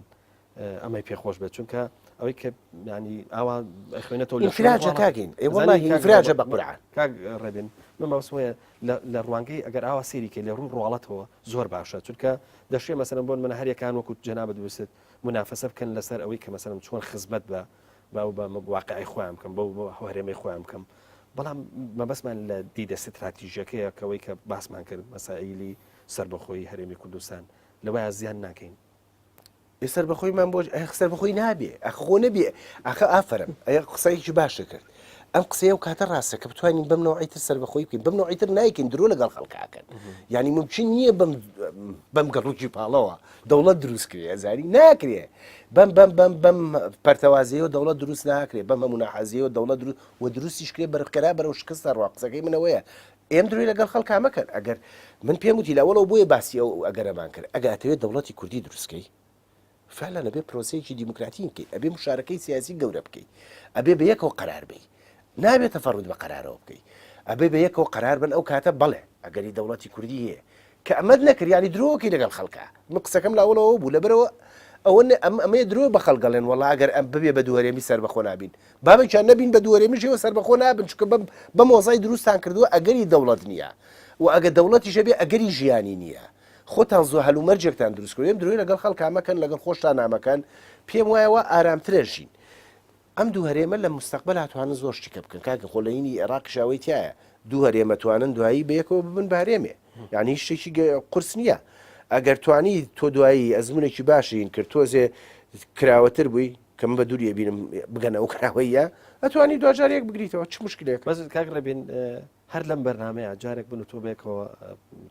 ئەمەی پێ خۆش بێت، چونکە ئەوەی کە یانی ئاوا ئەخوێنێتەوە لە شوێنێک ئینفراجە واڵا- کاکین ئێ وەڵا زانی کاک ئینفراجە ڕێبە- بە قورعان کاک ڕێبین من مەبەستم وەیە لە- لە ڕوانگەی ئەگەر ئاوا سێری کە لە ڕووی ڕواڵەتەوە زۆر باشە چونکە دەشێ مەسەرەن بۆن منە هەریەکان وەکوت جەنابت وست منافەسە بکەن لەسەر ئەوەی کە مەسەلەن چۆن خزمەت بە باو بە واقعی خۆیان بکەم بەو بۆ هەرێمەی خۆیان بکەم بەڵام مەبەسمان لە دیدە ستراتیژەکەیە کەەوەی کە باسمان کرد مەسائیلی سربەخۆی هەرێمی کوردستان لەوەیە زیان ناکەین سەر بەخۆی من بۆش سەر بەخۆی نابێ ئەخۆ نەبێ ئەخە ئافرم ئە قسەیەکی باشە کرد ئەم قسەیە و کاتە ڕاستە کە بتوانین بم نوعیتر سەر بەخۆی بکەین بم نوعیتر نایکەین درۆ لەگەڵ خەڵکاکەن یعنی ممکن نییە بم گەڵوکی پاڵەوە دەوڵەت دروست کرێ هەزاری ناکرێ بەم بەم بەم بەم پەرتەوازەیە دەوڵەت دروست ناکرێ بەم هەموو ناحەزیەوە دەوڵەت دروست و دروستیش کرێ بەرخکەرا بەرەو شکستە ڕوا قسەکەی منەوەیە ئێم دروی لەگەڵ خەڵکا مەکەن ئەگەر من پێم وتی لەوەڵەوە بۆیە باسی ئەو ئەگەرەمان کرد ئەگاتەوێت دەوڵەتی کوردی دروستکەی فعلا ئەبێ پرۆسەیەکی دیموکراتین بکەیت ئەبێ مشارەکەی سیاسی گەورە بکەیت ئەبێ بە یەکەوە قرار بی نابێت تەفەڕوت بە قرارەوە بکەیت ئەبێ بە یەکەوە قرار بن ئەو کاتە بڵێ ئەگەری دەوڵەتی کوردی هەیە کە ئەمەت نەکرد یانی درۆکەی لەگەڵ خەڵکا من قسەکەم لاوەڵەوە بوو لەبەرەوە ئەوە ئەم ئەمەیە درۆ بە خەڵک دەڵێن وەڵا ئەگەر ئەم ببێ بە دووەرێمی سەربەخۆ نابین بابێکیان نەبین بە دووەرێمیشەوە سەربەخۆ نابن چکە بەم بەم وەزای دروستان کردووە ئەگەری دەوڵەت نییە و ئەگە دەوڵەتیشە بێ ئەگەری ژیانی نییە خۆتان زۆ هەلومەرجێکتان دروست کردێن درۆی لەگەڵ خەڵکا مەکەن لەگەڵ خۆشتان نامەکەن پێم وایە وا ئارامترە ژین ئەم دوو هەرێمە لە مستەقبەل هاتوانن زۆر شتیکە بکەن کاکە خۆ لەینی ئێراقیش ئەوەی تیایە دوو هەرێمە توانن دوایی بەیەکەوە ببن بە هەرێمێ یعنی هیچ شتێکی قرس نییە ئەگەر توانی تۆ دوایی ئەزمونێکی باشین کرد تۆزێ کراوەتر بووی کەم بە دووریە بینم بگەنە ئەو کراوەیە ئەتوانی دوجارێک بگریتەوە چ مشکلێک بەس کاک ڕێبین هەر لەم بەرنمەیە جارێک بن و تۆ بێکەوە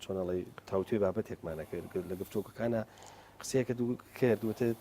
چۆنەڵی تاوتێ بابەتێکمانەکرد لە گفتوکەکانە قسەیەکە دوو کرد وتت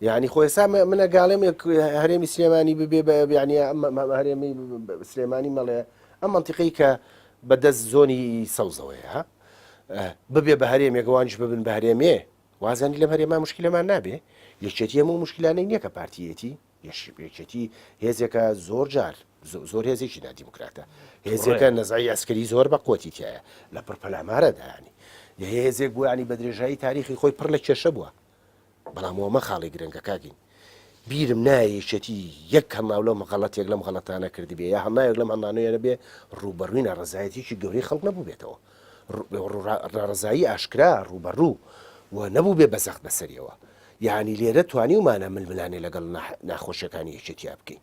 یعنی خۆ ئێستا من ئەگاڵێم هەرێمی سلێمانی ببێ بە بیانە هەرێمی سلێمانی مەڵێ ئەم منتیقی کە بەدەست زۆنی سەوزەوەی ها ببێ بە هەرێمێکوانش ببن بە هەرێمێ وازانی لەم هەرێما مشکلەمان نابێ یەکێتی هەموو مشکلانەی نییە کە پارتیەتی یەکێتی هێزێکە زۆر جار زۆر هێزێکی نادیموکراتە هێزەکە نەزای ئەسکەری زۆر بە قوتی تایە لە پڕپەلامارەدایانی هێزێک بۆیانی بە درێژایی تاریخی خۆی پڕ لە کێشە بووە بەڵام ئەوە مەخاڵی گرنگە کاکین بیرم نایە یەکێتی یەک هەماو لەم غەڵەتێک لەم غەڵەتانە کردبێ یا هەمایەک لەم هەمانوێرە بێ ڕووبەڕووی ناڕزایەتیی گەورەی خەڵک نەبووبێتەوە ناڕزایی ئاشکرا ڕووبەڕوو و نەبوو بێ بەزەخت بەسەریەوە یانی لێرە توانیومانە ململانێ لەگەڵ ناخۆشیەکانی یەکێتیا بکەین.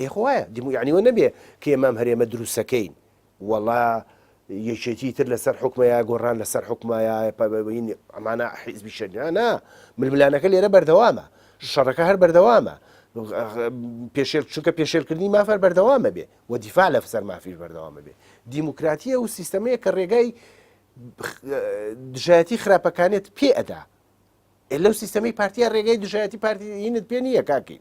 ئێ خۆ وایە دیمو یەعنی وە نەبێ کە ئێمام هەرێمە دروستەکەین وەڵا یەکێتی تر لەسەر حکومەیە گۆڕان لەسەر حکومایە ئەمانە حیزبی شەرنانە ململانەکە لێرە بەردەوامە شەڕەکە هەر بەردەوامە پێشێل چونکە پێشێلکردنی مافەر بەردەوامە بێ و دیفاع لە فسەر مافیش بەردەوامە بێ دیموکراتیە و سیستەمەیە کە ڕێگای دژایەتی خراپەکانێت پێ ئەدا لەو سیستەمی پارتیا ڕێگەی دژایەتی پارتیینت پێ نییە کاکی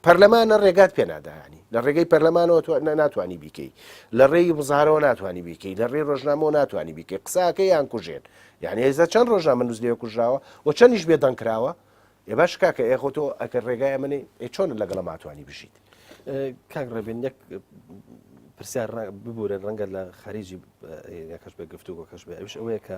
پەرلەمانە ڕێگات پێ ناداهانی لە ڕێگەی پەرلەمانەوە ناتوانانی بیکەی لە ڕێی بزارەوە ناتوانانی بیکەی لە ڕێ ڕۆژنامەوە ناتوانانی بیکەی قساکە یان کوژێن یعنی هێزە چەند ڕۆژە من نووسێ کوژراوە و چەندیش بێ دەنگکراوە ێ باش کاکە ئێخۆ تۆ ئەکە ڕێگای منی چۆن لەگەڵ ماتوانی بژیت کاک ڕێبێن یەک پرسیار ببورە ڕەنگە لە خەریجی یەکەش بە گفتوگۆ کەش بێ ئەوش ئەوەیە کە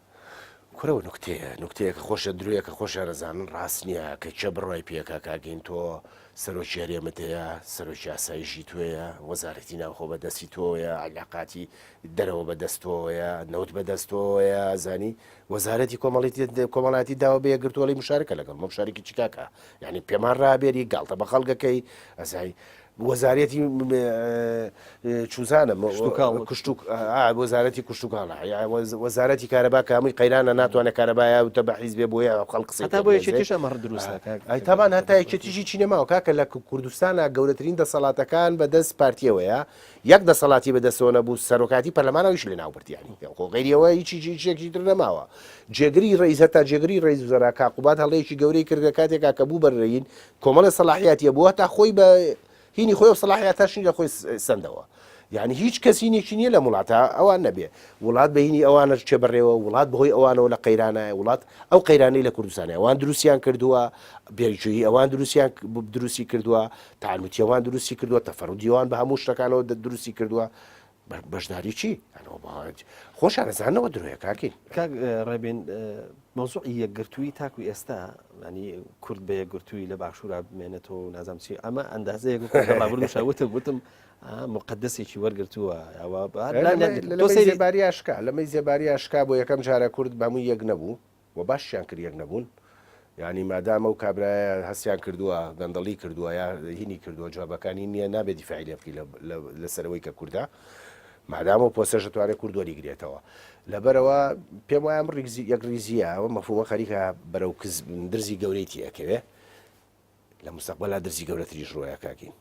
کورە نوکتەیە نوکتەیەکە خۆشە درۆیەکە خۆشە دەزانن ڕاست نییە کە چێ بڕای پێکا کاگەین تۆ سەرۆکی هەرێمت هەیە سەرۆکی ئاسایشی توێە وەزارەتی ناوخۆ بەدەستی تۆیە علاقاتی دەرەوە بەدەستەوەیە نەوت بەدەستەوەیە زانی وەزارەتی کۆمەڵی کۆمەڵاتی داوە بێ گرتووەی مشارکە لەگەڵ مەشارکی چیکاکە یعنی پێمان ڕابێری گاڵتە بە خەڵگەکەی ئەزای وەزارەتی چوزانم کوشتوک وەزارەتی کوشتتوکانە وەزارەتی کارەبا کامی قەیرانە ناتوانێت کارەبایە وتە بە حیزبێ بۆیە خەڵقسی تا بۆ یەکێتیش ئەمە دروستە تامان هەتا یەکێتیژی چینەماوە کاکە لە کوردستانە گەورەترین دەسەڵاتەکان بەدەست پارتیەوەیە یەک دەسەڵاتی بەدەستەوە نەبوو سەرۆکاتی پەرلەمانەوەیش لە ناوبردیانی خۆ غیریەوە هیچی جیچێکی تر نەماوە جێگری ڕیز هەتا جێگری ڕێز زەراکا قوبات هەڵەیەکی گەورەی کردە کاتێکا کە بوو بەرین کۆمەڵێ سەلاحیاتی هەبوو هەتا خۆی بە هینی خۆی و سەلاحیاتاشنی لە خۆی سندەوە یعنی هیچ کەسینێکی نییە لە وڵاتە ئەوان نەبێ وڵات بەینی ئەوانش چێ بڕێەوە وڵات بەهۆی ئەوانەوە لە قەیرانایە وڵات ئەو قەیرانەی لە کوردستانی ئەوان دروستیان کردووە بێژووی ئەوان دروستیان دروستی کردووە تاالوتیەوان دروستی کردووە تەفەرودیوان بە هەموو شتەکانەوە دروستی کردووە بەشداری چی؟ خۆشان ئەزانەوە درۆیە کاکی. کاک ڕێبین مەوزوعی یەکگرتووی تاکو ئێستا ینی کورد بە یەکگرتووی لە باشوورا بمێنێتەوە و نازم چی ئەمە ئەندازەیەک ڕابردوشە وتم وتم مقدسێکی وەرگتووە ئەوە لەمەی زێباریاشکا لەمەی زێباریاشکا بۆ یەکەم جارە کورد بەمووی یەک نەبوو وە باششیان کرد یەک نەبوون یانی مادام ئەو کابرایە هەستیان کردووە گەندەڵی کردووە یا هینی کردووە جوابەکانی نییە نابێ دیفاعی لێ بکەی لەسەرەوەی کە کوردە مادام و پۆسەش دەتوانێت کورد وەریگرێتەوە لەبەرەوە پێم وایە ڕیکزی یەک ریزیە ئەوە مەفووە خەریکە بەرەو درزی گەورەی تێکەوێ لە مستەقبلا درزی گەورەتریش ڕۆیە کاکین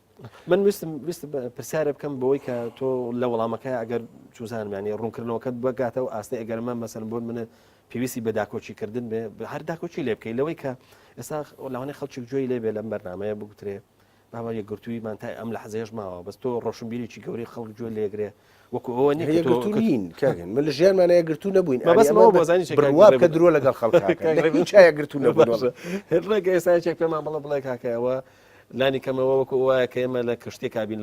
من ویستم ویست پرسیارە بکەم بۆی کە تۆ لە وەڵامەکە ئەگەر چوزانمانی ڕوونکردنەوەکەت بەگاتە و ئاستی ئەگەرمە مەسەر بۆن منە پێویستی بە داکۆچیکردن بێ هەر داکۆچی لێ بکەی لەوەی کە ئێستا لەوانێ خەڵکی جوێی لێبێ لەم بەرنمەیە بگوترێ باوە یەکگرتوویمان تا ئەم لە حەزێش ماوە بەس تۆ ڕۆشنبیریی گەوری خەڵک جوێ لێگرێ وەکو ئەوە نیە کە تۆ نین کاکن من لە ژیانمانە یەکگرتوو نەبووین مەبەستم ئەوە بۆ زانیت بڕوا بکە درۆ لەگەڵ خەڵک کاکە لە هیچ جا یەکگرتوو نەبووین ڕێگە ئێستا یەکێک پێمان بڵێ بڵێ کاکە ئەوە لانی کەمەوە وەکو وایە کە ئێمە لە کشتێکا بین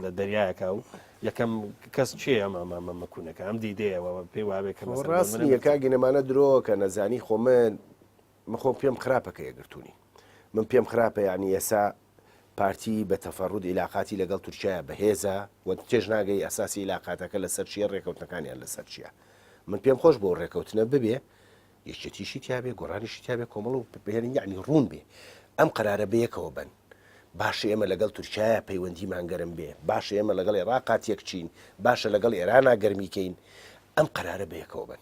لە دەریایەکە و یەکەم کەس چێ ئەمە ئەمە مەکوونەکە ئەم دیدەیەوە پێی وابێ کە ڕاست نیە کاگینەمانە درۆ کە نەزانی خۆ من مخۆم پێم خراپەکە یەگرتوونی من پێم خراپە یعنی ئێسا پارتی بە تەفەرود ئیلاقاتی لەگەڵ تورکیایە بەهێزە و تێش ناگەی ئەساسی ئیلاقاتەکە لەسەر چیە ڕێکەوتنەکانیان لەسەر چیە من پێم خۆش بۆ ڕێکەوتنە ببێ یەکێتیشی تیاابێ گۆرانیشی تیاابێ کۆمەڵ و بهێنین یعنی ڕوون بێ ئەم قرارە بەیەکەوە بن باشە ئێمە لەگەڵ تورکایە پەیوەندیمان گەرم بێ باشە ئێمە لەگەڵ عێراقات یەکچین باشە لەگەڵ ئێرانا گەرمیکەین ئەم قرارە بەیەکەوە بن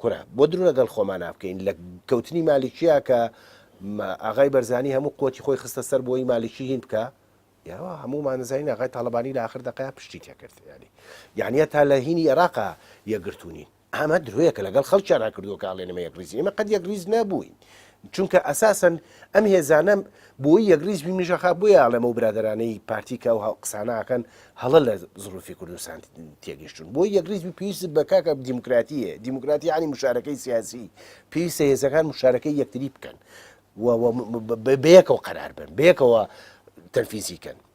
کورە بۆ درو لەگەڵ خۆمانا بکەین لە کەوتنی مالیکیە کە ئاغای بەرزانی هەموو قوتی خۆی خستە سەر بۆی مالیکی هین بکە یاوە هەموو مانزین ئاغای تاالبانی لە آخر دەقای پشتی تێکرد ینی یانە تا لە هینی عێراقا یەگرتونین ئەمە درۆیەکە لەگەڵ خەڵکیان هەکردووە کاڵێنمە یەک ریزی ئمە قەت یەک ریز نەبووین چونکە ئەساسەن ئەم هێزانە بۆی یەکریز بی منشەخا بۆیە ئاڵێمە و برادرانەی پارتیکە و قساناکەن هەڵە لە زروفی کوردستان تێگەشتون بۆ یەکریز بی پێویست بە کاکە دیموکراتیە دیموکراتی عنی مشارەکەی سیاسی پێویستە هێزەکان مشارەکەی یەکتری بکەن بەیەکەوە قەرار بن بەیەکەوە تەنفیزیکەن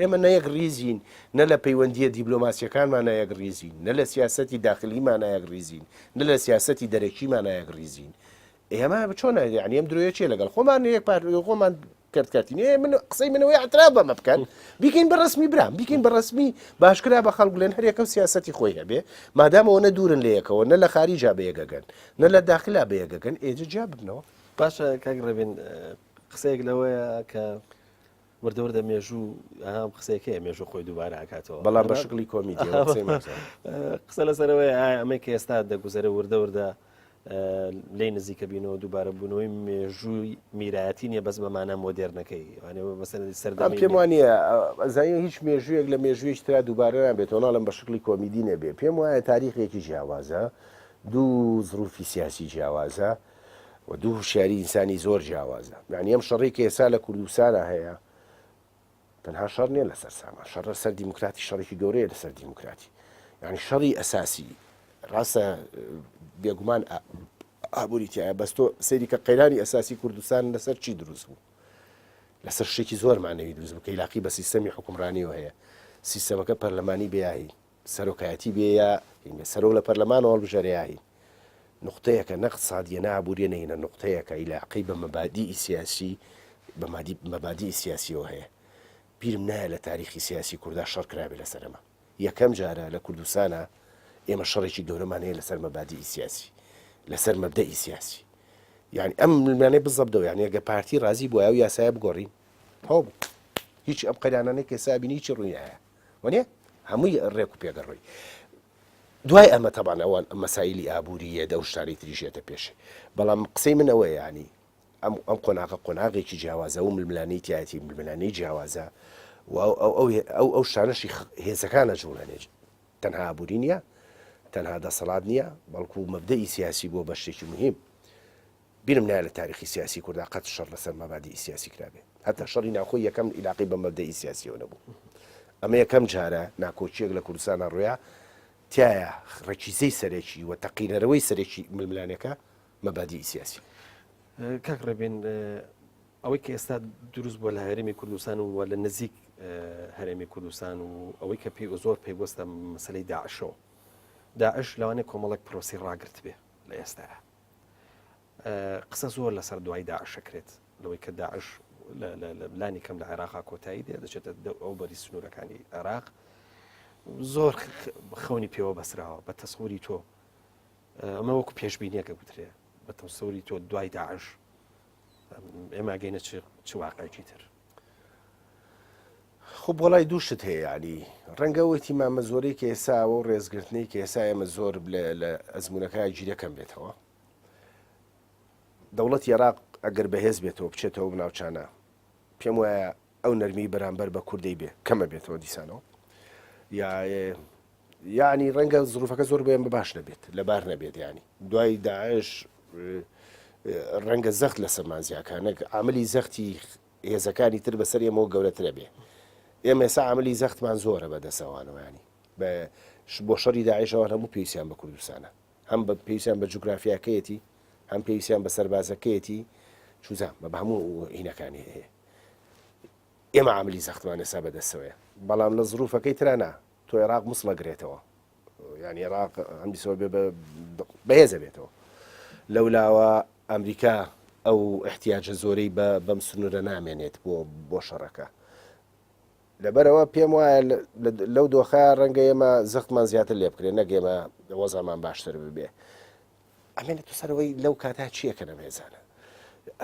ئێمە نە یەکڕیزین، نە لە پەیوەندییە دیبلۆماسییەکانمانا یەکڕیزین، نە لە سیاسەتی داخلیمانا یەکڕیزین، نە لە سیاسەتی دەرەکیمانا یەکڕیزین. ئێمە چۆن یانی ئەم درۆیە چییە لەگەڵ خۆمان یەک پارت خۆمان کەرت کەرتین ئێ من قسەی منەوەی ئاعتراف بەمە بکەن بیکەین بە ڕسمی برام بیکەین بە ڕسمی باشکرا بە خەڵک لێن هەرێکە و سیاستی خۆی هەبێ مادامەوە نە دوورن لە یەکەوە نە لە خاریجا بەیەگەگەن نە لە داخلا بەیەگەگەن ئێجە جیا ببنەوە باشە کاک ڕێبین قسەیەک لەوەیە کە وردە وردە مێژوو ئەها ئەم قسەیەکەیە مێژوو خۆی دووبارە ئەکاتەوە بەڵام بە شکلی کۆمیدی ئەوە قسەی ماکس قسە لەسەرەوەی ئایا ئەمەی کە ئێستا دەگوزەرە وردە وردە لی نزیکە بینەوە دووبارە بوونەوەی مێژووی میرایەتی نیە بەس بەمانە مۆدێرنەکەی وانەوە مەسەری سەردەم پێم وانە ئەزای هیچ مێژوویەک لە مێژوویش تررا دووبارە نابێتەوە ناڵم بە شکلی کۆمیدی نەبێ پێم وایە تاریخێکی جیاوازە دوو زروفی سیاسی جیاوازە و دوو هوشیاری ئینسانی زۆر جیاوازە یعنی ئەم شەڕی کە ئێسا لە کوردستانە هەیە تەنها شەڕ نیە لەسەر سامان شەڕ سەر دیموکراتی شەڕێکی گەورەیە لەسەر دیموکراتی یعنی شەڕی ئەساسی ڕاستە بێگومان ئابووری تایە بەس تۆ سەیری کە قەیرانی ئەساسی کوردستان لەسەر چی دروست بوو لەسەر شتێکی زۆر مانەوی دروست بکە یلاقی بە سیستەمی حکومڕانیەوە هەیە سیستەمەکە پەرلەمانی بیایی سەرۆکایەتی بێ یا هینە سەرۆک لە پەرلەمانەوە هەڵبژێرێ یا هین نوقتەیەکە نە قتسادیە نە ئابووریە نە هینە نوقتەیەکە ئیلاقەی بە مەبادیئی سیاسی بە مادی مەبادیئی سیاسیەوە هەیە بیرم نایە لە تاریخی سیاسی کورددا شەڕ کرابێ لەسەر ئەمە یەکەم جارە لە کوردستانە ئێمە شەڕێکی گەورەمان هەیە لەسەر مەبادیئی سیاسی لەسەر مەبدەئی سیاسی یعنی ئەم ملمانەی بزەبدەوە یعنی ئەگە پارتی رازی بووە و یاسایە بگۆڕین هەوو هیچ ئەم قەیرانانەی کە سابینی هیچی ڕووی نایە وانیە هەمووی ڕێک و پێگە ڕووی دوای ئەمە تەبان ئەوان مەسایلی ئابووریە دە شتانی تریژێتە پێشێ بەڵام قسەی من ئەوەیە ینی ئەم ئەم قۆناغە قۆناغێکی جیاوازە و ململانی تایەتی ململانی جیاوازە و ئەو ئەو ئەو شانەشی هێزەکانە جوڵێنێ تەنها ئابووری نییە تەنها دەسەڵات نییە بەڵکو مەبدەی سیاسی بۆ بە شتێکی مهم بیرم نایە لە تاریخی سیاسی کوردا قەت شەڕ لەسەر مەبادیئی سیاسی کرابێ. هەتا شەڕی ناوخۆی یەکەم ئیلاقەی بە مەبدەئی سیاسییەوە نەبوو. ئەمە یەکەم جارە ناکۆکییەک لە کوردستانا ڕویا، تیایا ڕەکیزەی سەرەکی و تەقینەرەوەی سەرەکی ململانێکە مەبادیئی سیاسی. کاک ڕێبین ئەوەی کە ئێستا دروست بوە لە هەرێمی کوردستان و لە نزیک هەرێمی کوردستان و ئەوەی کە پێ و زۆر پێگوەستە مەسلەی داعشەوە داعش لەوانێ کۆمەڵک پرۆسی ڕاگررت بێ لە ئێستاە قسە زۆر لەسەر دوای داعش ئەکرێت لەوەی کە داعش لانی کەم لە عێراقا کۆتایی دێ دەچێتە ئەو بەری سنوورەکانی عێراق زۆر خەونی پێوە بەسراوە بە تەسووری تۆ ئەمە وەکو پێشببینیەکە گوترێ بە تەسووری تۆ دوای داعش ئێمە گەینە چ واقعی تر خۆ وەڵای دوو شت هەیە یعنی ڕەنگە ئەوەیتی مامە زۆرەی کە ئێستا ئەوە و ڕێزگرتنەی کە ئێسا ئێمە زۆر لە ئەزمونونەکە گیرەکەم بێتەوە دەوڵەت عێراق ئەگەر بەهێز بێتەوە بچێتەوە بناوچانە پێم وایە ئەو نەرمی بەرامبەر بە کوردەی بێ کەمە بێتەوە دیسانەوە یا یەعنی ڕەنگە زروفەکە زۆر بۆیان بە باش نەبێت لەبار نەبێت یانی دوای داعش ڕەنگە زەخت لە سەمان زیاکانەک عملی زەختی هێزەکانی تر بەسەر ئێمەوە گەورەترە بێ ئێمە سا عملی زەختمان زۆرە بە دەسەوانەوەیانی بە بۆ شەڕی داعشەوە هەموو پێویستیان بە کوردستانە هەم بە پێویستیان بە جوگرافیاکەیەتی هەم پێویستیان بە سەربازەکەیەتی چوزان بە هەموو هینەکانی هەیە ئێمە عملی زەختمانە سا بەدەستەوەە بەڵام لە زروفەکەی ترانە تۆ ئێراق مسڵە گرێتەوە یانی ئێراق ئەم بیسەوە بێ بەهێزە بێتەوە لەولاوە ئەمریکا ئەو احتیاجە زۆرەی بە بەم سنوورە نامێنێت بۆ بۆ شەڕەکە لەبەرەوە پێم وایە لەو دۆخە ڕەنگە ئێمە زەختمان زیاتر لێ بکرێت نەگەێمە وەزامان باشتر ببێ ئەمێ لە تو سەرەوەی لەو کاتا چییە کە نەمێزانە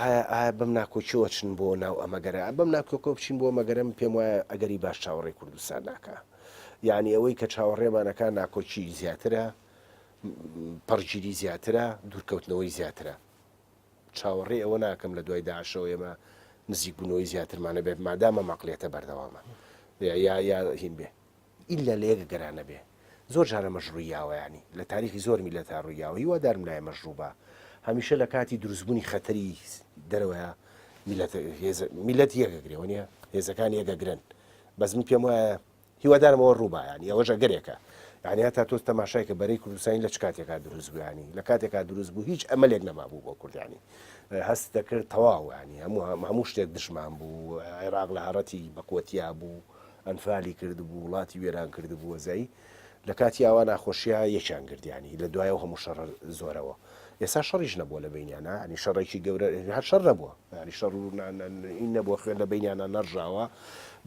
ئایا ئایا بەم ناکۆکیەوە چن بۆ ناو ئەمەگەرە بەم ناکۆکۆ بچین بۆ مەگەرم پێم وایە ئەگەری باش چاوەڕێ کوردستان ناکە یعنی ئەوەی کە چاوەڕێمانەکە ناکۆکی زیاترە پڕگیری زیاترە دوورکەوتنەوەی زیاترە چاوەڕێ ئەوە ناکەم لە دوای داشەوە ئێمە نزیکبوونەوەی زیاترمانە بێت مادامە مەقلێتە بەردەوامە یا یا هین بێ ئیلا لە یەک گەرا نەبێ زۆر جار ئەمەش ڕوویاوە یانی لە تاریخی زۆر میلەتا ڕوویاوە هیوادارم لای ئێمەش ڕووبا هەمیشە لە کاتی دروستبوونی خەتەری دەرەوەیە میلەت هێز میلەت یەکەگرێ وەنیە هێزەکان یەکەگرن بەس من پێم وایە هیوادارم ئەوە ڕووبا یانی ئەوەش ئەگەرێکە یعنی هەتا تۆ تەماشای کە بەرەی کوردستانی لە چ کاتێکا دروست بوویانی لە کاتێکا دروست بوو هیچ ئەمەلێک نەمابوو بۆ کوردانی هەست دەکرد تەواوانی هەموو هەموو شتێک دژمان بوو عێراق لە هەڕەتی بەقوەتیا بوو ئەنفالی کردبوو وڵاتی وێران کردبووە زەی لە کاتی ئاوا ناخۆشیا یەکیان گردیانی لە دوایەوە هەموو شەڕە زۆرەوە ئێسا شەڕیش نەبووە لە بینیانا ینی شەڕێکی گەورە هەر شەر نەبووە ینی شەڕ و ئی نەبووە خوێن لە بینیانا نەڕژاوە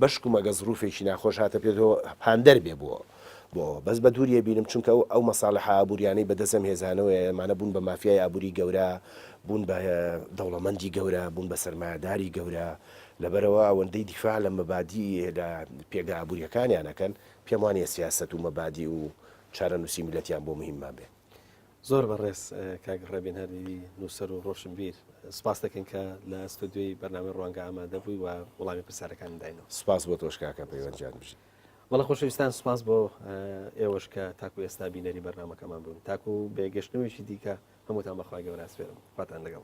بەشکو مەگە زروفێکی ناخۆش هاتە پێ تۆ پاندەر بێ بووە بۆ بەس بە دووریە بینم چونکە ئەو ئەو مەساالح ئابووریانەی بەدەسم هێزانەوە ئەمانە بوون بە مافیای ئابووری گەورە بوون بە دەوڵەمەندی گەورە بوون بە سەرمایهداری گەورە لەبەرئەوە ئەوەندەی دیفاع لە مەبادیئ لە پێگە ئابوورییەکانیان ئەکەن، پێم وانییە سیاسەت و مەبادیئ و چارەنووسی میللەتیان بۆ موهیممان بێ. زۆر بەڕێز کاک ڕێبین هەردیدی نووسەر و ڕۆشنبیر، سپاست دەکەین کە لە ئەستۆدیۆی بەرنامەی ڕوانگە ئامادە بووی و وڵامی پرسیارەکانم داینەوە. سپاس بۆ تۆش کاکە پەیوەند گیان، بژی. بەڵێ خۆشەویستان سپاس بۆ ئێوەش کە تاکوو ئێستا بینەری بەرنامەکەمان بوون. تاکوو بێگەشتنەوەیەکی دیکە هەمووتان بە خوای گەورە ئەسپێرم. خواتان لەگەڵ.